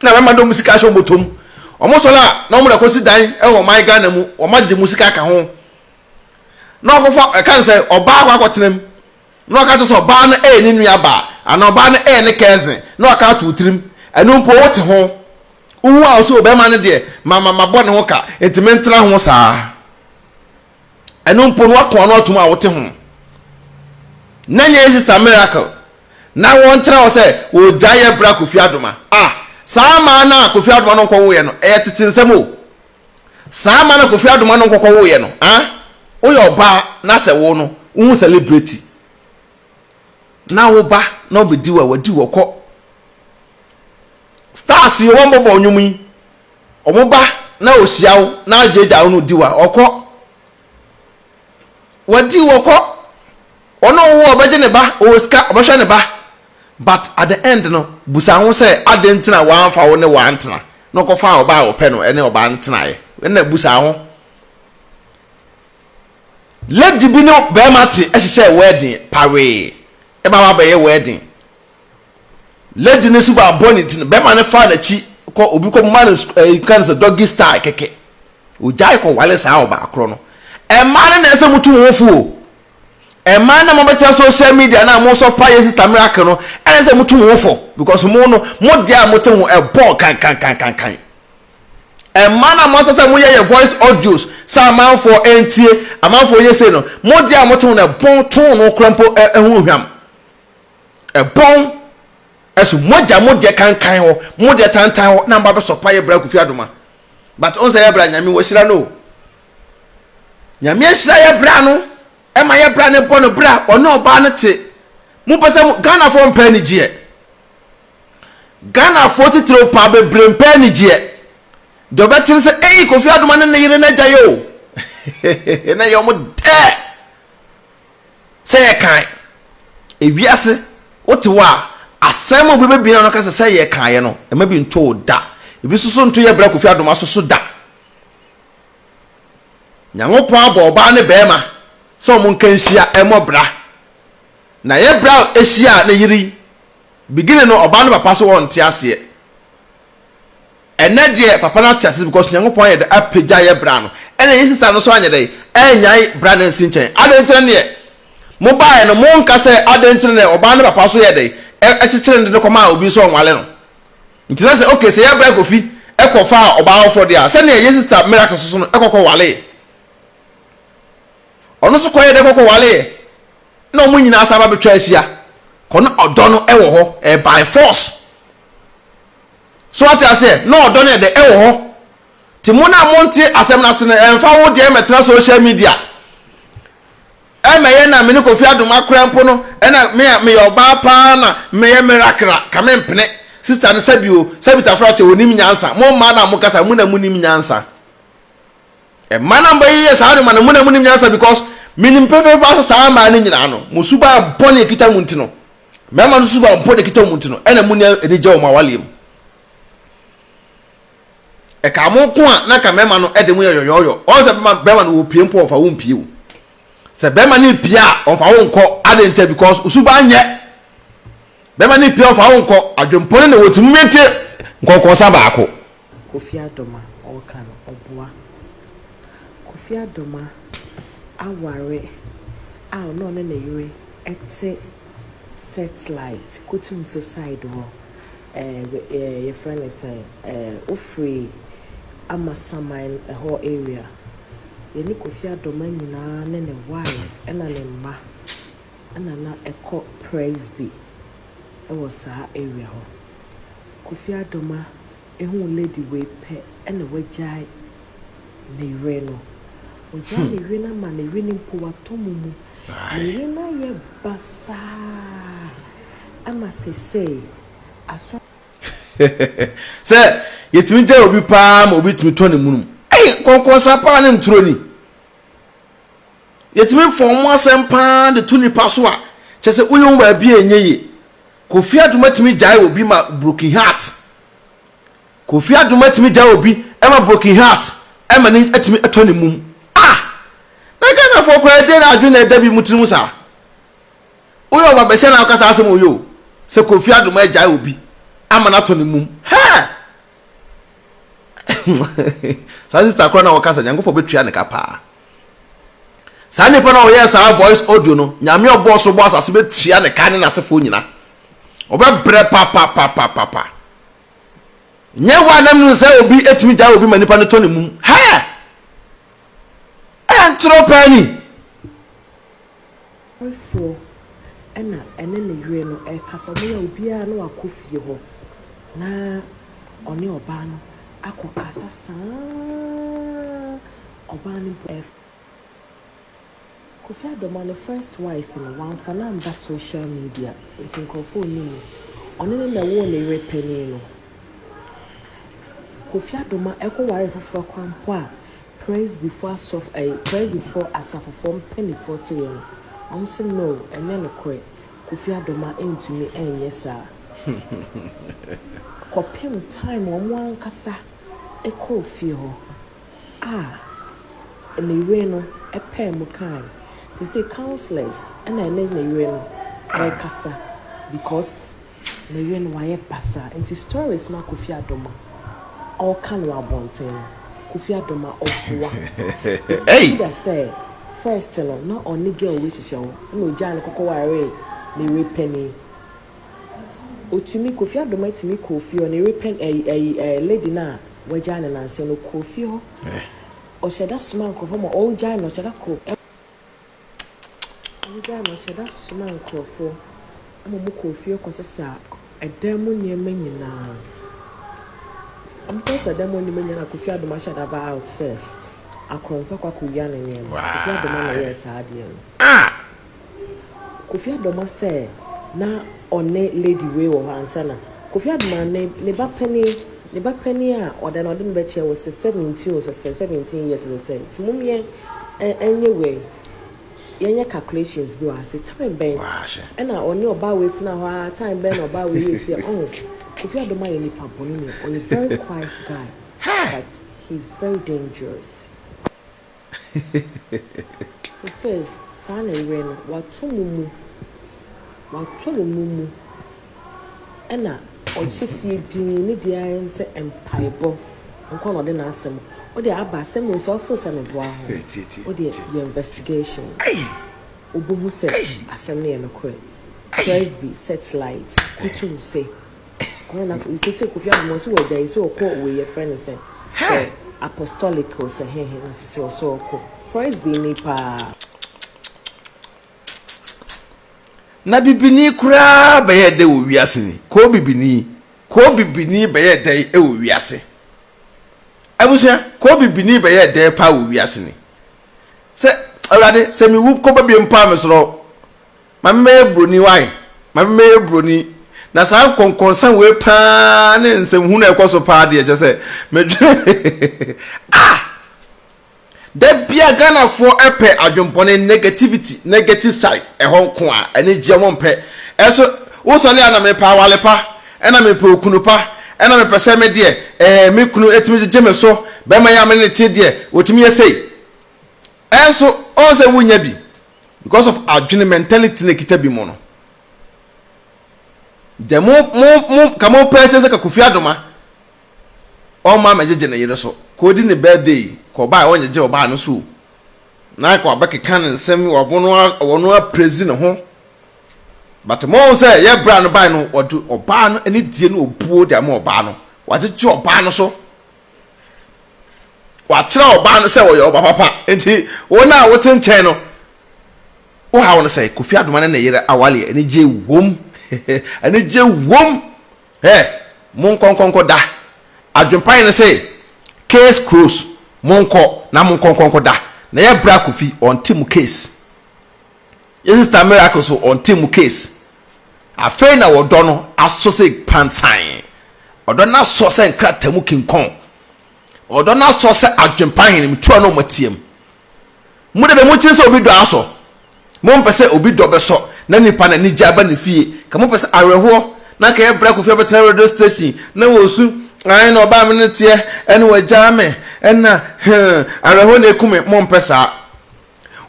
Speaker 1: na mmarima no de wɔn sika ahyɛ wɔn bɔtɔ mu. Wɔsɔre a na wɔde akɔsi dan wɔ ɔman Ghana mu, wɔagye mo sika aka ho. Na wɔakɔfa ɛka no sɛ ɔbaa akɔ akɔtena mu na wɔaka kyerɛ sɛ ɔbaa no yɛ ne nuabaa anaa ɔbaa no yɛ ne cousin na wɔaka ato wo tirim. Ɛno mpo wote ho. Wohu a wo sɛ ɔbarima no deɛ ma ma mabɔ ne ho ka nti mentena ho saa. Ɛno mpo no wako ano atom a wote ho no. Na nyɛ sister miracle na wɔntena hɔ sɛ wɔgyae yɛ bra kofi adoma ah saa maa na kofi adoma no nkɔwo yɛ no ɛyɛ tete nsɛm o saa maa na kofi adoma no nkɔkɔ wo yɛ no ah woyɛ ɔbaa na sɛ wo no wohu celebrity na wo ba na ɔbɛdi wa wadi wɔ kɔ stars yi wɔn bɔbɔ ɔnwom yi Ɔmo ba na ohyia wo na adwagya wo na odi wo a, ɔkɔ. Wadi wo, ɔkɔ. Ɔno a ɔwoo wo ɔbɛgye ne ba, ɔwɔ sika, ɔbɛhwɛ ne ba. But at the end no, busa ho sɛ aden nti na w'anfa wo ne wo antena na ɔkɔfaa ɔbaa a ɔpɛ no ɛne ɔbaa no tenaeɛ. Ɛna busa ho. Lady bi ne bɛɛma te ɛhyehyɛɛ wedding pawee ɛma w'abɛyɛ wedding. Lady no suban bɔ ne ti no, bɛrima no faa n'akyi kɔ obi kɔ ma no nka no sɛ doggy style kɛkɛ. Ogyae kɔ wale saa ɔbaa korɔ no. Ɛmaa no na ɛsɛ mo tu mo ho fo o. Ɛmaa na mo bɛtena social media na mo sɔ pa yɛ sister miracle no ɛna sɛ mo tu mo ho fo because mo no mo deɛ a mo te ho ɛbɔɔ kankankankankan. Ɛmaa na mo asasa mo yɛ yɛ voice audios sɛ amanfoɔ ɛntie amanfoɔ yɛ sei no mo deɛ a mo te ho no ɛbɔn tone no korɔ mpo ɛho hwam. Ɛbɔn ɛso mo agya mo deɛ kankan hɔ mo deɛ tantan hɔ na mba bɛsɔ pa yɛ bra kofi adoma but ɔn sɛ yɛ bra nyame wɔahyira no o nyame ahyira yɛ bra no ɛma yɛ bra no bɔ no bra ɔne ɔbaa no te mo pɛ sɛ mo Ghana foɔ mpɛ anigyeɛ Ghana foɔ titiriw paa bebree mpɛ anigyeɛ deɛ ɔbɛte no sɛ ei kofi adoma ne ne yere no agya yɛ o na yɛ ɔmo dɛ Sɛ yɛkan ewiase wotew a, asɛm a obi bebien ano aka sɛ sɛ yɛkaeɛ no, ɛma bi nto wo da. Ebi nso so nto yɛ bra Kofi Adoma so so da. Nyankopɔn abɔ ɔbaa ne barima sɛ wɔn nka nhyia mmɔ bra. Na yɛ bra hyia a ne yere yi, beginning no ɔbaa no papa so wɔnte aseɛ. Ɛnɛ deɛ papa no ate ase because Nyankopɔn ayɛ dɛ apagya yɛ bra no ɛna ne sister no nso anyɛ dɛn anyae bra no ansi nkyɛn adɛn nti na neɛ mo baeɛ no mo nka sɛ adɛn nti na ɔbaa no papa nso yɛɛ dɛn ɛkyekyere no de no kɔmaa obi nso ɔnwale no nti na sɛ okay sɛ yɛ bra Kofi ɛkɔ faa ɔbaa foforɔ deɛ a sɛdeɛ yɛ sister Miracle soso no ɛkɔ kɔ waleɛ ɔno nso kɔyɛ dɛ kɔkɔ waleɛ na ɔmo nyinaa saa ba bɛtwa ahyia kɔ na ɔdɔ no ɛwɔ hɔ ɛɛ by force. So wate aseɛ? Na ɔdɔ no yɛ dɛ, ɛwɔ hɔ. Nti mo no a monte asɛm no ase no, ɛmfa wo deɛ mmɛtena social media ɛmmɛyɛ na me ne Kofi Adom akora mpo no, ɛna me a meyɛ ɔbaa paa na meyɛ merakra, ka mempene sister no sɛbi o, sɛbi Tafra kyɛ ɔnim nyansa, mo mmaa no a mokasa no, mo na monim nyansa. Mmaa no a mobɛyeyɛ saa nneɛma no, mo na monim nyansa because menim pefee paa sɛ saa mmaa no nyinaa no, mo suban bɔne a ɛkita mo nti no, Mmarima no suba mpo na ɛkita wɔn ti no, ɛna mu nea ani gye wɔn awareɛ mu. Ɛka mo ko a na ka mmarima no de mo yɛ yɔyɔyɔ. Ɔn sɛ bɛrima no wɔpie mpo ɔfa wo mpie o. Sɛ bɛrima no pie a ɔfa wo nkɔ adɛn nti because osuba nyɛ. Bɛrima no pie ɔfa wo nkɔ adwempɔne na wɔtumi tie nkɔnkɔnsa baako. Kofi Adoma
Speaker 2: ɔɔka no ɔboa. Kofi Adoma aware a ɔne ɔne ne yere ɛte sɛtlaet kotumsi saed hɔ ɛɛ yɛfrɛ no sɛn ɛɛ ofiri amasaman ɛhɔ area. Yɛne Kofi Adoma nyinaa ne ne waef ɛna ne mma. Ɛna na ɛkɔ Presby wɔ saa area hɔ. Kofi Adoma huu lady wei pɛ ɛna wagyae ne yere no. Ɔgyae ne yere no ama ne yere no mpo watɔ mumu. Ne yere no ayɛ basaa ama sesei asɔ.
Speaker 1: Sɛ yɛtumi gyae obi paa ma obi tumi tɔ ne munum. Ei! Nkɔnkɔnsa paa ne nturo ni. Yɛtumi fa wɔn asɛm pa ara de to nnipa so a, kyerɛ sɛ woyɛ wɔn baabi a ɛnyɛ yie. Kofi Adoma tumi gyae obi ma broken heart. Kofi Adoma tumi gyae obi ma broken heart ma ne atumi atɔ ne mum. Ah! Na Ghanafoɔ koraa ɛdeɛ na adwene na ɛda bi mu tirim saa. Woyɛ ɔba bɛsɛ na ɔka saa asɛm oyɛ o. Sɛ Kofi Adoma agyae obi ama no atɔ ne mum. Hɛɛ! Saa sista koraa na ɔka sɛ Nyankopɔn bɛtua ne ka paa. Saa nipa no a ɔyɛɛ saa voice audio no, Nyame a ɔbɔɔ soro bɔɔ asase bɛtua ne ka ne n'asefoɔ nyina. Ɔbɛbrɛ papapapapapa. Nyɛ wo a nam no sɛ obi ɛtumi gyae obi ma nipa no tɔ ne mum. Hɛɛ! Ɛntorɔ paa ni.
Speaker 2: Ɔwerefoɔ na ɛne ne yere no rekasa, wɔn a obiara no akɔ fie hɔ na ɔne ɔbaa no akɔ kasa saa ara, ɔbaa no mpo ɛrefrɛ Kofi Adoma ne first wife no, wamfa no amba social media nti nkorɔfoɔ nnim no, ɔne no na ɛwoo ne yere panin no. Kofi Adoma ɛkɔ ware foforɔ kwan mpo a, Presbyfoɔ asɔf ɛyi Presbyfoɔ asafofoɔ mpaninfoɔ te yɛn wɔn se no ɛnyɛ nokorɛ Kofi Adoma ntumi ɛnyɛ saa kɔpem time wɔn ankasa ɛkɔɔ fie hɔ a ne yere no ɛpaa mu kaaɛ seisei councillors ɛna ɛne ne yere no ɛkasa because Me yere no wayɛ basaa nti stories na Kofi Adom a ɔka no wɔ abɔnten no Kofi Adom a ɔboa it's either sɛ first no na ɔne girl wei hyehyɛ hɔ ɛna ɔgyaa no kɔkɔ waree ne yere panin ɔtumi Kofi Adom atumi kɔɔ fie hɔ ne yere pan ɛyi ɛyi ɛɛ lady no a wagyaa no nansa no ɔkɔɔ fie hɔ ɔhyɛda somaa nkorɔfoɔ ma ɔgyae no ɔhyɛda kɔɔ Wogyaa no ɔhyɛ da somaa nkurɔfoɔ ma wɔkɔɔ fie kɔsesaa ɛdan mu nneɛma nyinaa. Wɔkɔsesaa ɛdan mu nneɛma nyinaa na Kofi Adom ahyɛ da baa out sɛ akorɔmfo akɔ akɔwia ne nneɛma. Kofi Adom na ɛyɛɛ saa adeɛ no. Kofi Adom sɛ na ɔne lady wei wɔ hɔ ansa na Kofi Adom ne ba panin. Ne ba panin a ɔda no ɔde no bɛkyɛ wo se seventeen o se se seventeen years no sɛ nti mom yɛn ɛ nyɛ wei yɛn nyɛ calculations bi wɔ ha se time bɛn ɛna ɔne ɔbaa wei tena hɔ aa time bɛn na ɔbaa wei yɛ fie ɔho Kofi Adom ayɛ nipa bɔne ni ɔyɛ very quiet guy but he is very dangerous. Sesei, saa na ɛyɛ no. Wɔato mo mu. Wɔato mo mu mu. Ɛna ɔhyɛ fie dinn, ne deɛ ara ne sɛ mpaebɔ nko ara na ɔde n'asɛm. Wo deɛ aba asɛm wei so, woforo sɛ meboa ho? Wo deɛ yɛ investigation. Wobɛhu sɛ asɛm no yɛ nokorɛ. Presby Searchlight, Kutuwu se, Kwan na afei sɛ sɛ Kofi Annan ɔsɛ wɔagya yi sɛ ɔkɔ wei yɛfrɛ no sɛ sɛ apostolic o sɛ hehe na sɛ sɛ ɔsɛ ɔkɔ Presby ni paa.
Speaker 1: Na bibini koraa bɛyɛ dɛ wɔ wiase ni koo bibini koo bibini bɛyɛ dɛ wɔ wiase abusua koo bibini bɛyɛ dɛ paa wɔ wiase ni sɛ awurade sɛ mewu kɔba bie mpo a mesorɔ ma me mɛyɛ buroni wai ma me mɛyɛ buroni na saa nkɔnkɔnsa wei paa ne nsɛmhunu a ɛkɔ so paa deɛ kyɛ sɛ medwene ah da bia ghanafoɔ ɛpɛ adwempɔne negativity negative side ɛhɔ nko a ɛne gyeɛ mo mpɛ ɛso wosɔle a na mepɛ awale pa ɛna mepɛ okunu pa ɛna mepɛ sɛ me deɛ ɛɛ me kunu ɛtumi gyegye me so bɛma yɛ amene ne te deɛ wɔtumi yɛ sei ɛnso ɔn sɛ wonya bi because of adwene mentality na ekita bi mu no deɛ mo mo mo ka mo pɛ sɛ sɛ ka kofi adoma ɔma amegyegye ne yere so ka odi ne birthday ka ɔbaa ɔnyegye ɔbaa no so na ka ɔbɛkeka ne nsɛm ɔbo no ɔno aprezi ne ho but mo sɛ yɛ bra no baa no ɔde ɔbaa no ne die no obuo de ama ɔbaa no wagyegye ɔbaa no so. wakyerɛ ɔbaa no sɛ ɔyɛ ɔba papa nti wɔn a wote nkyɛn no wohaw no sɛ kofi adoma ne ne yere awale anigye wom anigye wom ɛ mo nkɔnkɔnkɔ da adwempa yɛ no sɛ case close mo nkɔ na mo nkɔnkɔnkɔ da na yɛ bra kofi ɔnte mo case Yɛ sister miracle so ɔnte mo case afei na ɔdɔ no asɔ sɛ pansan ɔdɔ no asɔ sɛ nkrataa mu kinkɔn ɔdɔ no asɔ sɛ adwempa henem tua na ɔmatiam mo dede mo kyen sɛ obi dɔ asɔ mo mpɛ sɛ obi dɔ bɛsɔ na nipa na anigye aba ne fie ka mo pɛ sɛ awerɛhoɔ na ka yɛ brɛ kofia bɛtena radio station na wɔsu ae na ɔbaa me ne teɛ ɛne wɔagyaa me ɛna hmm awerɛhoɔ na ɛku me mo mpɛ saa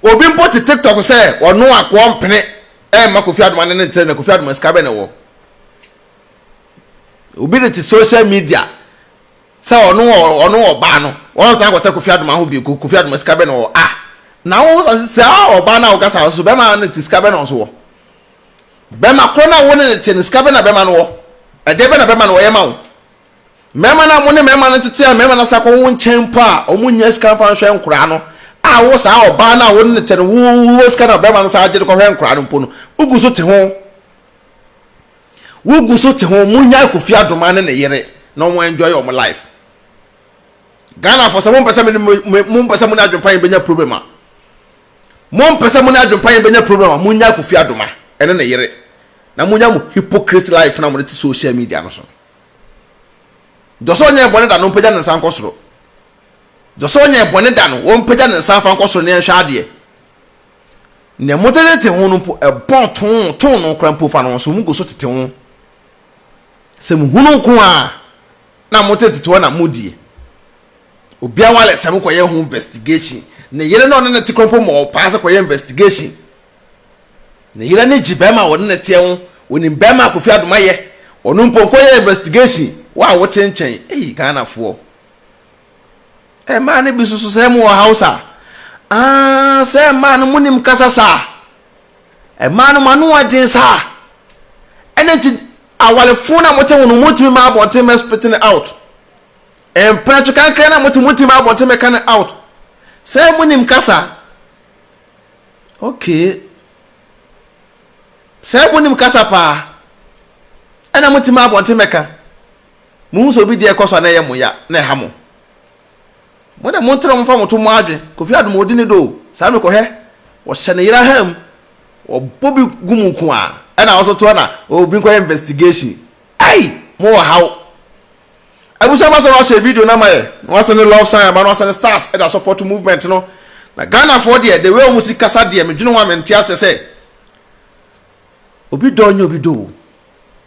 Speaker 1: Obi mpo te tiktok sɛ ɔno akoɔ mpene ɛmma Kofi Adoma ne ne ntere na Kofi Adoma sika bɛ na ɛwɔ. Obi de te social media sɛ ɔno ɔno ɔbaa no wɔn san kɔtɛ Kofi Adoma ho bi Kofi Adoma sika bɛ na ɔwɔ a na wo sɛ ɔbaa na ɔkasa nso bɛma ne te sika bɛ na ɔso wɔ bɛma korɔ na wo ne ne te ne sika bɛ na bɛma no wɔ ɛdeɛ bɛ na bɛma no wɔyɛ ma wo Mmarima no a wɔne mmarima no tete a mmarima no asan akɔwo nkyɛn mpo a wɔnnya sika mfa nhwɛ nkwadaa no a wo saa ɔbaa no a wo ne no te no wowɔ sika no a barima no san gye de kɔhwɛ nkwadaa no mpo no, wogu so te ho. Wogu so te ho. Monnyae Kofi Adoma ne ne yere na wɔn enjoy wɔn life. Ghana for sɛ mompɛ sɛ mompɛ sɛ mo ne adwempa yɛn bɛnya problem a mompɛ sɛ mo ne adwempa yɛn bɛnya problem a monnyae Kofi Adoma ne ne yere na monya mo hypocrite life na mo de te social media no so no. Deɛ ɔsɛ ɔnyɛɛ bɔne da no ɔmpagya ne nsa nkɔ soro. Deɛ ɔsɛ ɔnyɛɛ bɔne da no ɔmpagya ne nsa mfa nkɔ soro ne nhwɛ adeɛ. Nea motetete ho no mpo, ɛbɔn too too no koraa mpo fa no nso mogu so tete ho. Sɛ mohunu nko ara na motetete hɔ na modie. Obiara wale sɛ mokɔyɛ ho investigation. Ne yere na ɔne no te koraa mpo ma ɔpaa sɛ kɔyɛ investigation Ne yere ani gye barima a ɔne no teɛ ho, ɔnim barima a Kofi Adoma yɛ, ɔno mpo nkɔyɛ investigation, wo a wote nkyɛn, ei Ghanafoɔ. Ɛɛ mmaa no bi nso so sɛ mo wɔ house a, aah sɛ mmaa no monim kasa saa, mmaa no mo ano ɔden saa, ɛna nti awarefoɔ no a mote ho no motumi ma abɔnten mɛ spit no out, mpratwe kankra no a mote motumi ma abɔnten mɛ ka no out, sɛ monim kasa. Okay. Sɛ monim kasa paa ɛna mote ma abɔnten mɛka, mohu sɛ obi deɛ ɛkɔ so a na ɛyɛ mo ya na ɛha mo. Mo de montena momfa mo to mo adwen, Kofi Adom ɔdi ne dɔ o, saa mekɔhwɛ wɔhyɛ ne yere ahaa mu, wɔbɔ bi gu mu nko a ɛna wo nso to ɛna obi nkɔyɛ investigation. Ei! Mowɔ haw. Abusuafo asɔre no ahyɛ video no ama yɛ na wɔasen ne love sign ama no asɛn stars de asɔpɔto movement no na Ghanafoɔ deɛ the way wɔn si kasa deɛ me dwene ho a me nte aseɛ sɛ obi dɔ nyɛ obi dɔ o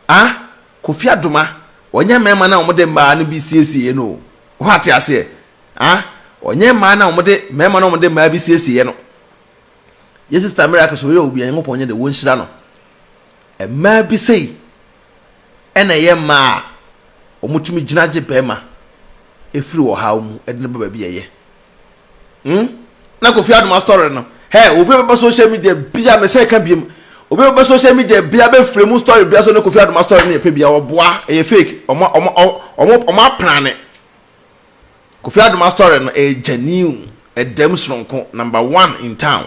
Speaker 1: ah Kofi Adoma ɔnyɛ mmarima no a wɔde mmaa no bi siesieɛ no o wo ate aseɛ ah ɔnyɛ mmaa no a wɔde mmarima no a wɔde mmaa bi siesieɛ no yɛ sister Miracle so yɛ obi a Nyankopɔn nyɛ de wɔn nhyira no mmaa bi sei Ɛna ɛyɛ mmaa a wɔtumi gyina gye barima firi ɔhaw mu de no ba baabi a ɛyɛ. Hmm? Na Kofi Adoma story no, hɛ, obi a bɛba social media bia, mesɛ ka biem, obi a bɛba social media bia bɛfiri mu story bia so ne Kofi Adoma story no yɛ pɛ bia, ɔboa, ɛyɛ fake, ɔmo, ɔmo, ɔmo, ɔmo aprane. Kofi Adoma story no ɛyɛ genuine, ɛdam soronko, number one in town.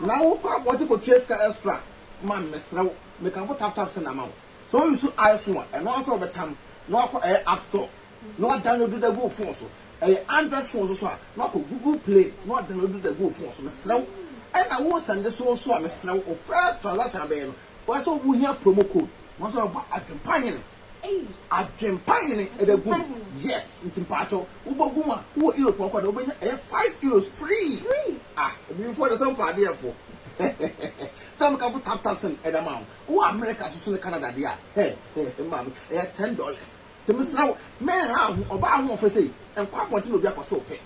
Speaker 3: Na wo kɔ abɔnten kɔ tua sika extra ma me mesrɛ wo me kamfo tap tap send ama wo sɛ wo use iphone a ɛno ansa wobɛtam na wakɔ ɛyɛ app store na wa download da gu wo phone so ɛyɛ android phone nso so a na wakɔ google play na wa download da gu wo phone so mesrɛ wo ɛna wo send so nso a mesrɛ wo wo first transaction abɛyɛ no wayɛ sɛ wo hia promo code na sɛ wobɔ adwempa hene ei. Adwempa hene ɛdɛ gum yes nti mpakyɛw wobɔ gum a wowɔ Europe ɔkɔ dɛ wobɛnya ɛyɛ five euros free ah abibifoɔ deɛ sɛ mfa adeɛ fo sɛ meka fo tap tap send ɛdɛ ma wo wowɔ America soso ne Canada deɛ a hɛ hɛ maame ɛyɛ ten dollars nti mesrɛ wo mɛnha wo ho ɔbaa ahoɔfɛ sei nkɔ abɔnten na obi akɔ sɛ ɔpɛ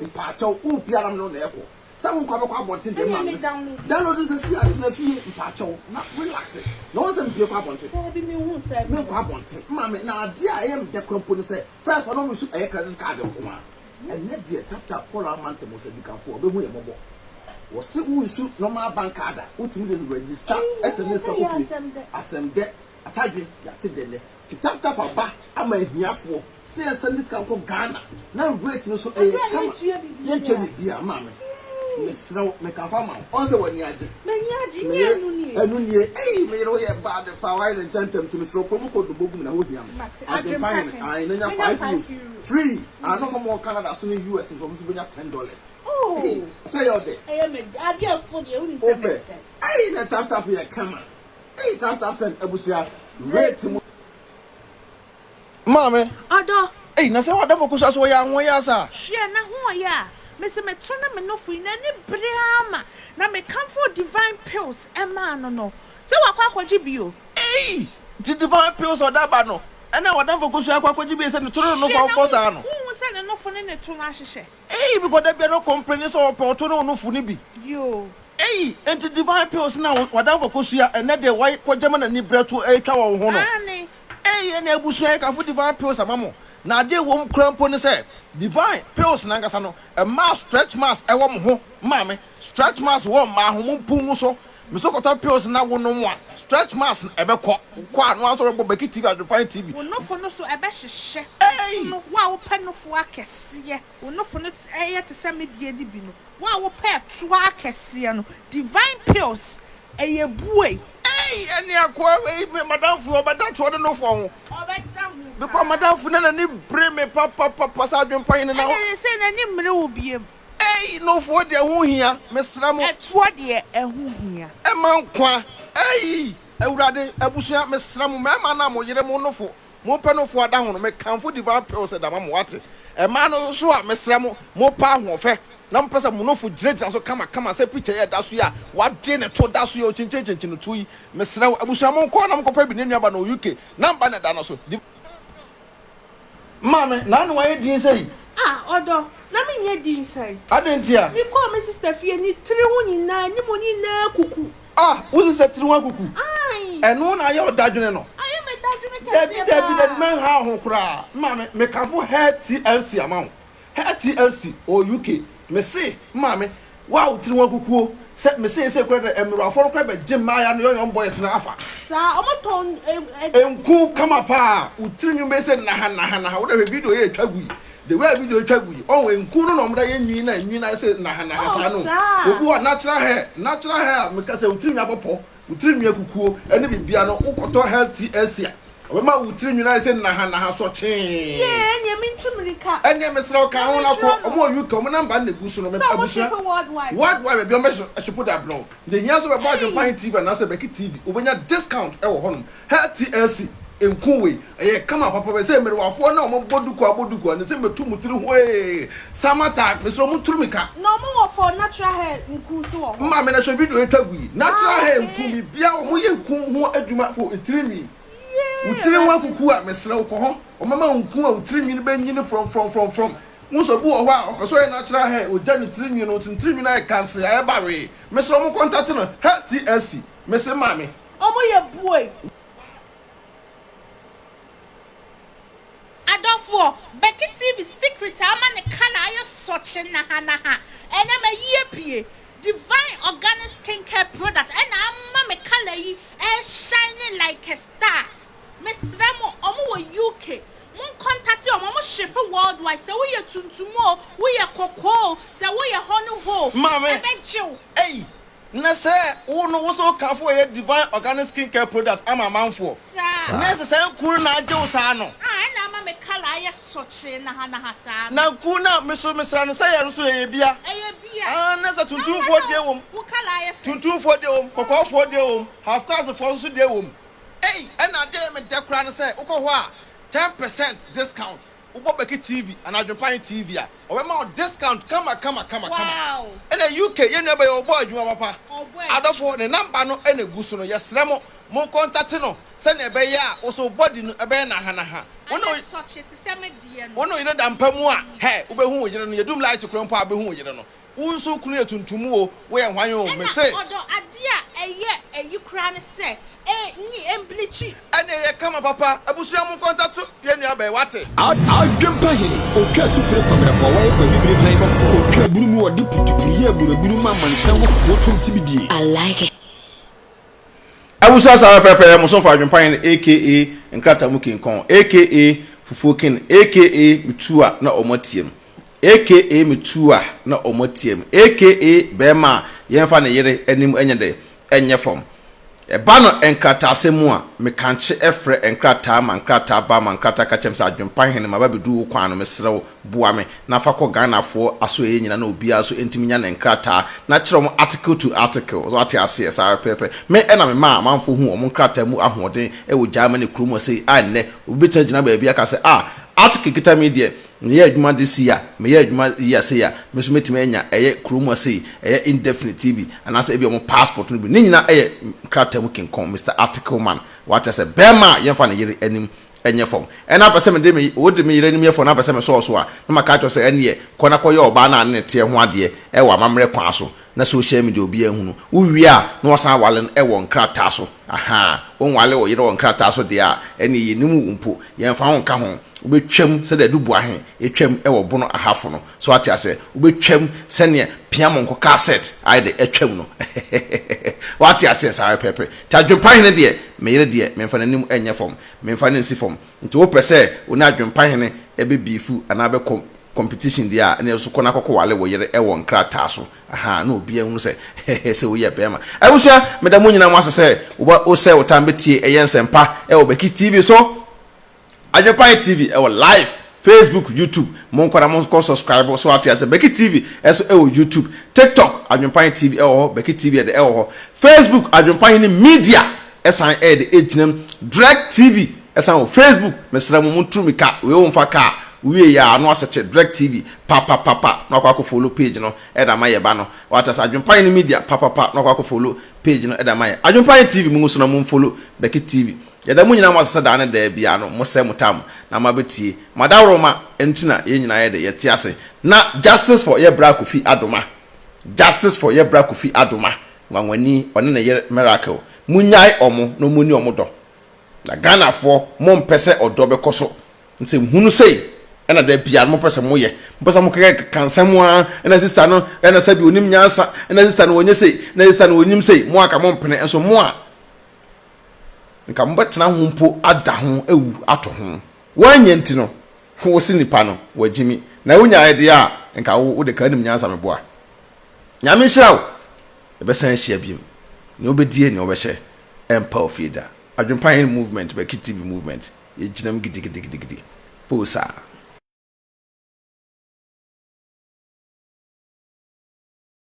Speaker 3: mpakyɛw wopɛ ara mene wo na ɛkɔ Sɛ wo nkwa bɛkɔ abɔnten deɛ mma mmes. Download nsɛ si a tena fie mpakyɛw na relaxe na wɔn sɛ mepie kɔ abɔnten me nkɔ abɔnten mma me na adeɛ a ɛyɛ me dɛ kora mpo ne sɛ first pɛ no me su ɛyɛ credit card nko a ɛnɛ deɛ tap tap call a ama ntɛm ɔsɛ dikanfoɔ a ɔbɛhu yɛ mmɔbɔ wɔse wo nsu normal bank card a wotumi de register sms fa kɔ fie asɛm dɛ. Atadwe yɛate dɛ nɛ te tap tap aba ama ahiafoɔ sɛ yɛnsɛnde sika nkɔ Ghana na rate no so ɛyɛ kama yɛntua biribiaa maame mesrɛ wo meka fa ma wo ɔn sɛ w'ani agye meyere ɛno nie ei meyere wo yɛ bad paa w'ayɛ no ntɛntɛm nti mesrɛ wo kɔ mu kɔ dɔ bɔ gu me na hɔ hia me adwempa hene ae na nya five euros free ae na ɔma mo wɔ Canada so ne US nso ɔmo nso bɛnya ten dollars ei ɔsɛ yɛ ɔdɛ
Speaker 4: wopɛ ei nɛ tap
Speaker 3: tap yɛ kama. Eyi Tam Tafton abusua rate mu. Maame. Ɔdɔ.
Speaker 4: Ei na sɛ w'adamfo
Speaker 3: koso a so wɔyɛ anwɔn yɛ asa a. Hwɛ n'ahoɔyɛ
Speaker 4: a. Mese meto ne menofo yi n'ani bere ara ma na mekamfoo Divine Pills maa no no. Sɛ wakɔ akɔgye bi o. Ei nti
Speaker 3: Divine Pills a ɔde aba no ɛna w'adamfo koso akɔ akɔgye bi sɛ ne to ne nenofo a ɔbɔ saa no. Hwɛ n'ahoɔyɛ. Wonhu sɛ nenofo ne
Speaker 4: ne to no ahyehyɛ. Eii bikɔ da biara
Speaker 3: ɔkɔmpleni sɛ ɔpɛ ɔto ne wo nofo no bi eii
Speaker 4: enti
Speaker 3: divine pills no a wadamfo kosua ɛnɛ de wai kɔ gyama nani brɛ to ɛretwa wɔ wo ho no eii
Speaker 4: ɛne abusua
Speaker 3: yɛ kamfo divine pills ama mo na adeɛ ɛwɔ mu koraa mpo ne sɛ divine pills no ankasa no ɛmaa stretch marks ɛwɔ mo ho maame Stretch marks wɔ mmaa ho, mumpu ngu so. Meso kɔtɔ pills na wonom a, stretch marks no ɛbɛkɔ. Wokɔ a, na woasan rebɔ Beki TV adwempa TV. Wo nofo no so
Speaker 4: ɛbɛhyehyɛ. Nofo no, wo a wopɛ nofo akɛseɛ, wo nofo no yɛ te sɛ medeɛ no bi no. Wo a wopɛ ɛtoa akɛseɛ no, Divine pills ɛyɛ buei. Ei! Ɛne
Speaker 3: akoa wei, me madamfo yi, ɔbɛda toɔ de nofo ho. Ɔbɛda ho paa. Because madamfo yi na n'ani bere me papapapa sɛ adwempa yi ne na. Ɛna ɛyɛ sɛ n'ani mmere
Speaker 4: wo biom. Ei, nofoɔ
Speaker 3: deɛ ɛho hia, mesrɛ mo. Ɛtoɔ deɛ ɛho
Speaker 4: hia. Ɛma nkwa.
Speaker 3: Ei, Awurade, abusua, mesrɛ mo, mmarima no a mo yere, mo nofo, mo pɛ nofoɔ ada ho no, mekamfo Divine Pills ɛda ma mo, wate? Mmaa no nso a, mesrɛ mo, mo pɛ ahoɔfɛ, na mo pɛ sɛ mo nofo gyinagyina so kamakama sɛ picture yi a ɛda so yi a, wɔadwe ne to da so yi a ɔkyinkyinkyinkyin no to yi, mesrɛ wo, abusua, monkɔ na monkɔpɛ bi, ne nuaba no wɔ UK, number no ɛda no so, Divine Pills. Maa me, na na wayɛ dinn sɛɛ yi. Ah, ɔdɔ,
Speaker 4: na menyɛ dinn sɛɛ. Adɛn ntia? Mekɔɔ
Speaker 3: me sista
Speaker 4: fie, ne tiri ho nyinaa, ne mu nyinaa akuku. Ah, wo sista tiri
Speaker 3: ho akuku? Ae. Ɛno na
Speaker 4: ayɛ wo dadwene
Speaker 3: no? Ayɛ me dadwene kɛseɛ
Speaker 4: paa. Dabi, dabi, dabi, mɛnhaw ho
Speaker 3: koraa. Maa me, mekafo hair tea ansi ama wo. Her TLC wɔ UK. Me se maame wo a wo tiri ho akukuo sɛ me seesei koraa deɛ mmerewafoɔ no koraa bɛgye mmaaya no yɔyɔm boys no afa. Saa ɔmo
Speaker 4: tɔn eh. Nku
Speaker 3: kama paa wo tiri nwi bɛyɛ sɛ naha naha naha wo da hwɛ video yɛ twa gu yi the way a video twa gu yi ɔho nku no na ɔmo da yɛ nwi na nwi no ayɛ sɛ naha naha saa no obi wɔ natural hair natural hair a me ka sɛ wo tiri nwi abɔ pɔ Wo tiri nwii akukuo ne biribiara no wo kɔtɔ health tea asia ɔbɛma wo tiri nwii ayɛ sɛ naha naha sɔ kyee. Yee ɛneɛ me
Speaker 4: ntu mirika. Ɛneɛ mesrɛ wo ka
Speaker 3: ho na kɔ ɔmo wɔ UK ɔmo number no na egu so no mepɛ abusua world wide baabi ɔmo bɛ shipo de abrɛ wo deɛ hia nso bɛbɔ adwempa he TV anaasɛ bɛki TV wobɛnya discount ɛwɔ hɔnom HTLC, Nku wei, ɛyɛ kama papa bɛ sɛ mmerewafoɔ na wɔn bɔ duku abɔ duku a ne sɛ mɛtu mo tiri hwee, summer time, mesrɛ mo nturu me ka. Na wɔn wɔ for natural hair nku
Speaker 4: nso wɔ hɔ. Maame na hwɛ video yɛ twa
Speaker 3: gu yi natural hair nku bi bia wɔn yɛ nku ho adwuma for etiri nwi wo tiri ho akuku a mesrɛ wo kɔ hɔ wɔn mɛma wo nku a wo tiri nwi no bɛ nyini frɔm frɔm frɔm frɔm wohu sɛ obi wɔ hɔ a ɔpɛ sɛ ɔyɛ natural hair ɔgya ne tiri nwi no nti ne tiri nwi no ayɛ kansee a ɛba wee mesrɛ mo kɔntate no HTLC mese maame. Ɔmo yɛ buei.
Speaker 4: Adɔfoɔ, Becky TV secret a ama ne colour ayɛ sɔkye nahanaha ɛnɛ mayi apue. Divine organic skin care product ɛna ama me colour yi ɛɛ shine like a star. Mesrɛ mo, ɔmo wɔ UK, mo nkɔntate ɔmo, ɔmo ship worldwide, sɛ woyɛ tuntum oo, woyɛ kɔkɔɔ oo, sɛ woyɛ hɔ no hɔ oo, ɛbɛgye wo.
Speaker 3: Na sɛ wo no wo so wo kanfo yɛ Divine Organic Skin Care Product ama amanfoɔ. Na ɛsɛ saa nku no na agye wo saa no. A ɛna ama me kala
Speaker 4: ayɛ sɔkyee nahanaha saa no. Na nku no a me so
Speaker 3: me sra no sɛ yɛ no so ɛyɛ bia. Ɛyɛ bia. Aah na sɛ tuntumfoɔ deɛ wom. Wo kala ayɛ fɛ.
Speaker 4: Tuntumfoɔ deɛ wom,
Speaker 3: kɔkɔɔfoɔ deɛ wom, half caste foɔ nso deɛ wom. Ei ɛna adeɛ yɛ me dɛ koraa ne sɛ wokɔ hɔ a ten percent discount. Wobɔ Beki TV anaa Adwempan TV a, wɔbɛma wo discount kama kama kama kama.
Speaker 4: Ɛna UK,
Speaker 3: yɛn nua bɛyɛ ɔbɔɔ adwuma papa. Adɔfo, ne number no na egu so no, yɛsrɛ mo, mo kɔntate no sɛnea ɛbɛyɛ a wo so wo body no bɛyɛ nahanaha.
Speaker 4: Wo ne wo yere da mpa mu a,
Speaker 3: hɛ, wubehu wo yere no, yɛdum light koro mpo a, wubehu wo yere no. Wo nso kunu yɛ tuntum o, wo yɛ hwan o, me se. Ɛna ɔdɔ adeɛ a
Speaker 4: ɛyɛ ayi koraa ne sɛ e nyi ɛmblikyi. Ɛna ɛyɛ kama
Speaker 3: papa, abusua mo nkɔ ntato yɛn nua bɛɛ, wate. Adwempa hene,
Speaker 5: otwa asupire kwabrɛfoɔ, wayɛ kwabibire han bɔfoɔ, otwa aburu mu, ɔde putupuru yɛ aburaburu ma amansan mufoɔ to nti bidie. I like it.
Speaker 1: Abusua saa pɛpɛɛpɛ, mo somfo Adwempa hene aka Nkratamu King Kong aka Fufuo King aka Metua na ɔmo ateam. aka me tuo a na wɔn atia me aka bɛɛma a yɛnfa ne yere anim nyɛ dɛ ɛnyɛ fam ɛba no nkrataasɛm mu a me kankye ɛfrɛ nkrataa ma nkrataa ba ma nkrataa ka kyerɛ me sɛ adwempa hene maba bɛdu wo kwan no mesrɛ wo boa me na fa kɔ Ghanafoɔ asoɛeɛ nyina na obiara nso ntumi nya ne nkrataa na kyerɛ wɔn article to article so ate aseɛ saa pɛpɛpɛ me na me maa amanfoɔ hu wɔn nkrataa mu ahoɔden wɔ Germany kuro mu ase a nnɛ obi bɛtumi agyina baabi aka sɛ ah article kita me deɛ Meyɛ adwuma de sei a, meyɛ adwuma yɛ sei a, me nso mɛtumi anya ɛyɛ kuro mu a sei, ɛyɛ indefinite TV, anaasɛ ebia wɔn passport no bi. Ne nyinaa yɛ krataa mu kinkɔn, Mister Article Man. Wate aseɛ? Barima a yɛmfa ne yere anim nyɛ fam. Ɛna apɛ sɛ mede me, wode me yere anim yɛ fam na apɛ sɛ mesɔɔ so a, na maka akyerɛ wo sɛ ɛnneɛ, kɔ na kɔyɛ ɔbaa no a ne ne teɛ ho adeɛ wɔ amammerɛ kwan so. na social media obiaa hu no, wo wie a na wasan awale no wɔ nkrataa so ahaa, wo nwale wo yere wɔ nkrataa so deɛ a ɛneɛ yɛnim wo mpo, yɛmfa wo nka ho, wo bɛ twam sɛdeɛ Duboahe twam wɔ Bono Ahafo no, so ate aseɛ, wo bɛ twam sɛdeɛ Piamonko Cassett ayɛ dɛ atwam no hehehehehe wate aseɛ saa pɛpɛpɛ, nti Adwenpahene deɛ me yere deɛ memfa n'anim nyɛ fam, memfa no nsi fam, nti wo pɛ sɛ wo ne Adwenpahene bɛ beefu anaa bɛ kɔ competition deɛ a ɛne so kɔ na kɔkɔ wale wo yere ɛwɔ nkrataa so ahaa na obiara hunu sɛ hɛhɛ sɛ woyɛ bɛɛma abusua meda mo nyina mo ase sɛ woba o sɛ wo tan bɛtie ɛyɛ nsɛmpa ɛwɔ bɛkis tv so adwepae tv ɛwɔ live facebook youtube mo nkɔ na mo nkɔ subscribe so ate ase bɛkis tv ɛso ɛwɔ youtube tiktok adwepae tv ɛwɔ hɔ bɛkis tv ɛde ɛwɔ hɔ facebook adwepae ne media Ɛsan ɛyɛ de ɛgyina mu. Drek TV ɛsan wɔ Facebook mesrɛ mo mo turu me ka wei wo nfa ka a wo wie yɛ a no asɛkye Drek TV pa pa pa pa no akɔ akɔ follow page no ɛde ama yɛ ba no wate ase Adwenpa Yene Media pa pa pa no akɔ akɔ follow page no ɛde ama yɛ Adwenpa Yene TV mo ngu so na mo nfollow Becky TV yɛda mo nyinaa mo ase sɛ daa ne daa biara no mo sɛ mo taa mo na mo abɛ tie mo adaworoma ɛno nti na yɛn nyinaa yɛ de yɛ te ase na Justice for yɛ bra Kofi Adoma Justice for yɛ bra Kofi Adoma Nwanwani ɔne ne yere Miracle monnyae wɔn na wɔn nni wɔn dɔ. Na Ghanafoɔ mo mpɛ sɛ ɔdɔ bɛkɔ so nsɛm hunu sei ɛna da biara no mo pɛ sɛ mo yɛ mo pɛ sɛ mo kɛkɛ ka nsɛm mo ara ɛna sista no ɛna sɛbi onim nyansa ɛna sista no wɔnyɛ sei ɛna sista no wɔnyim sei mo aka mo mpene nso mo a nka mo bɛtena ho mpo ada ho awu ato ho wɔanyɛ nti no ho si nipa no wɔagyimi na wonyaeɛ deɛ a nka wo wode ka anim nyansa meboa Nyame nhyira wo. Yɛbɛsan ahyia biom. Nea ɔbɛdie nea ɔbɛhyɛ ɛmpa ofie da. Adwempa yɛn movement bɛki TV movement yɛgyinam gidigidigidigidi poo saa.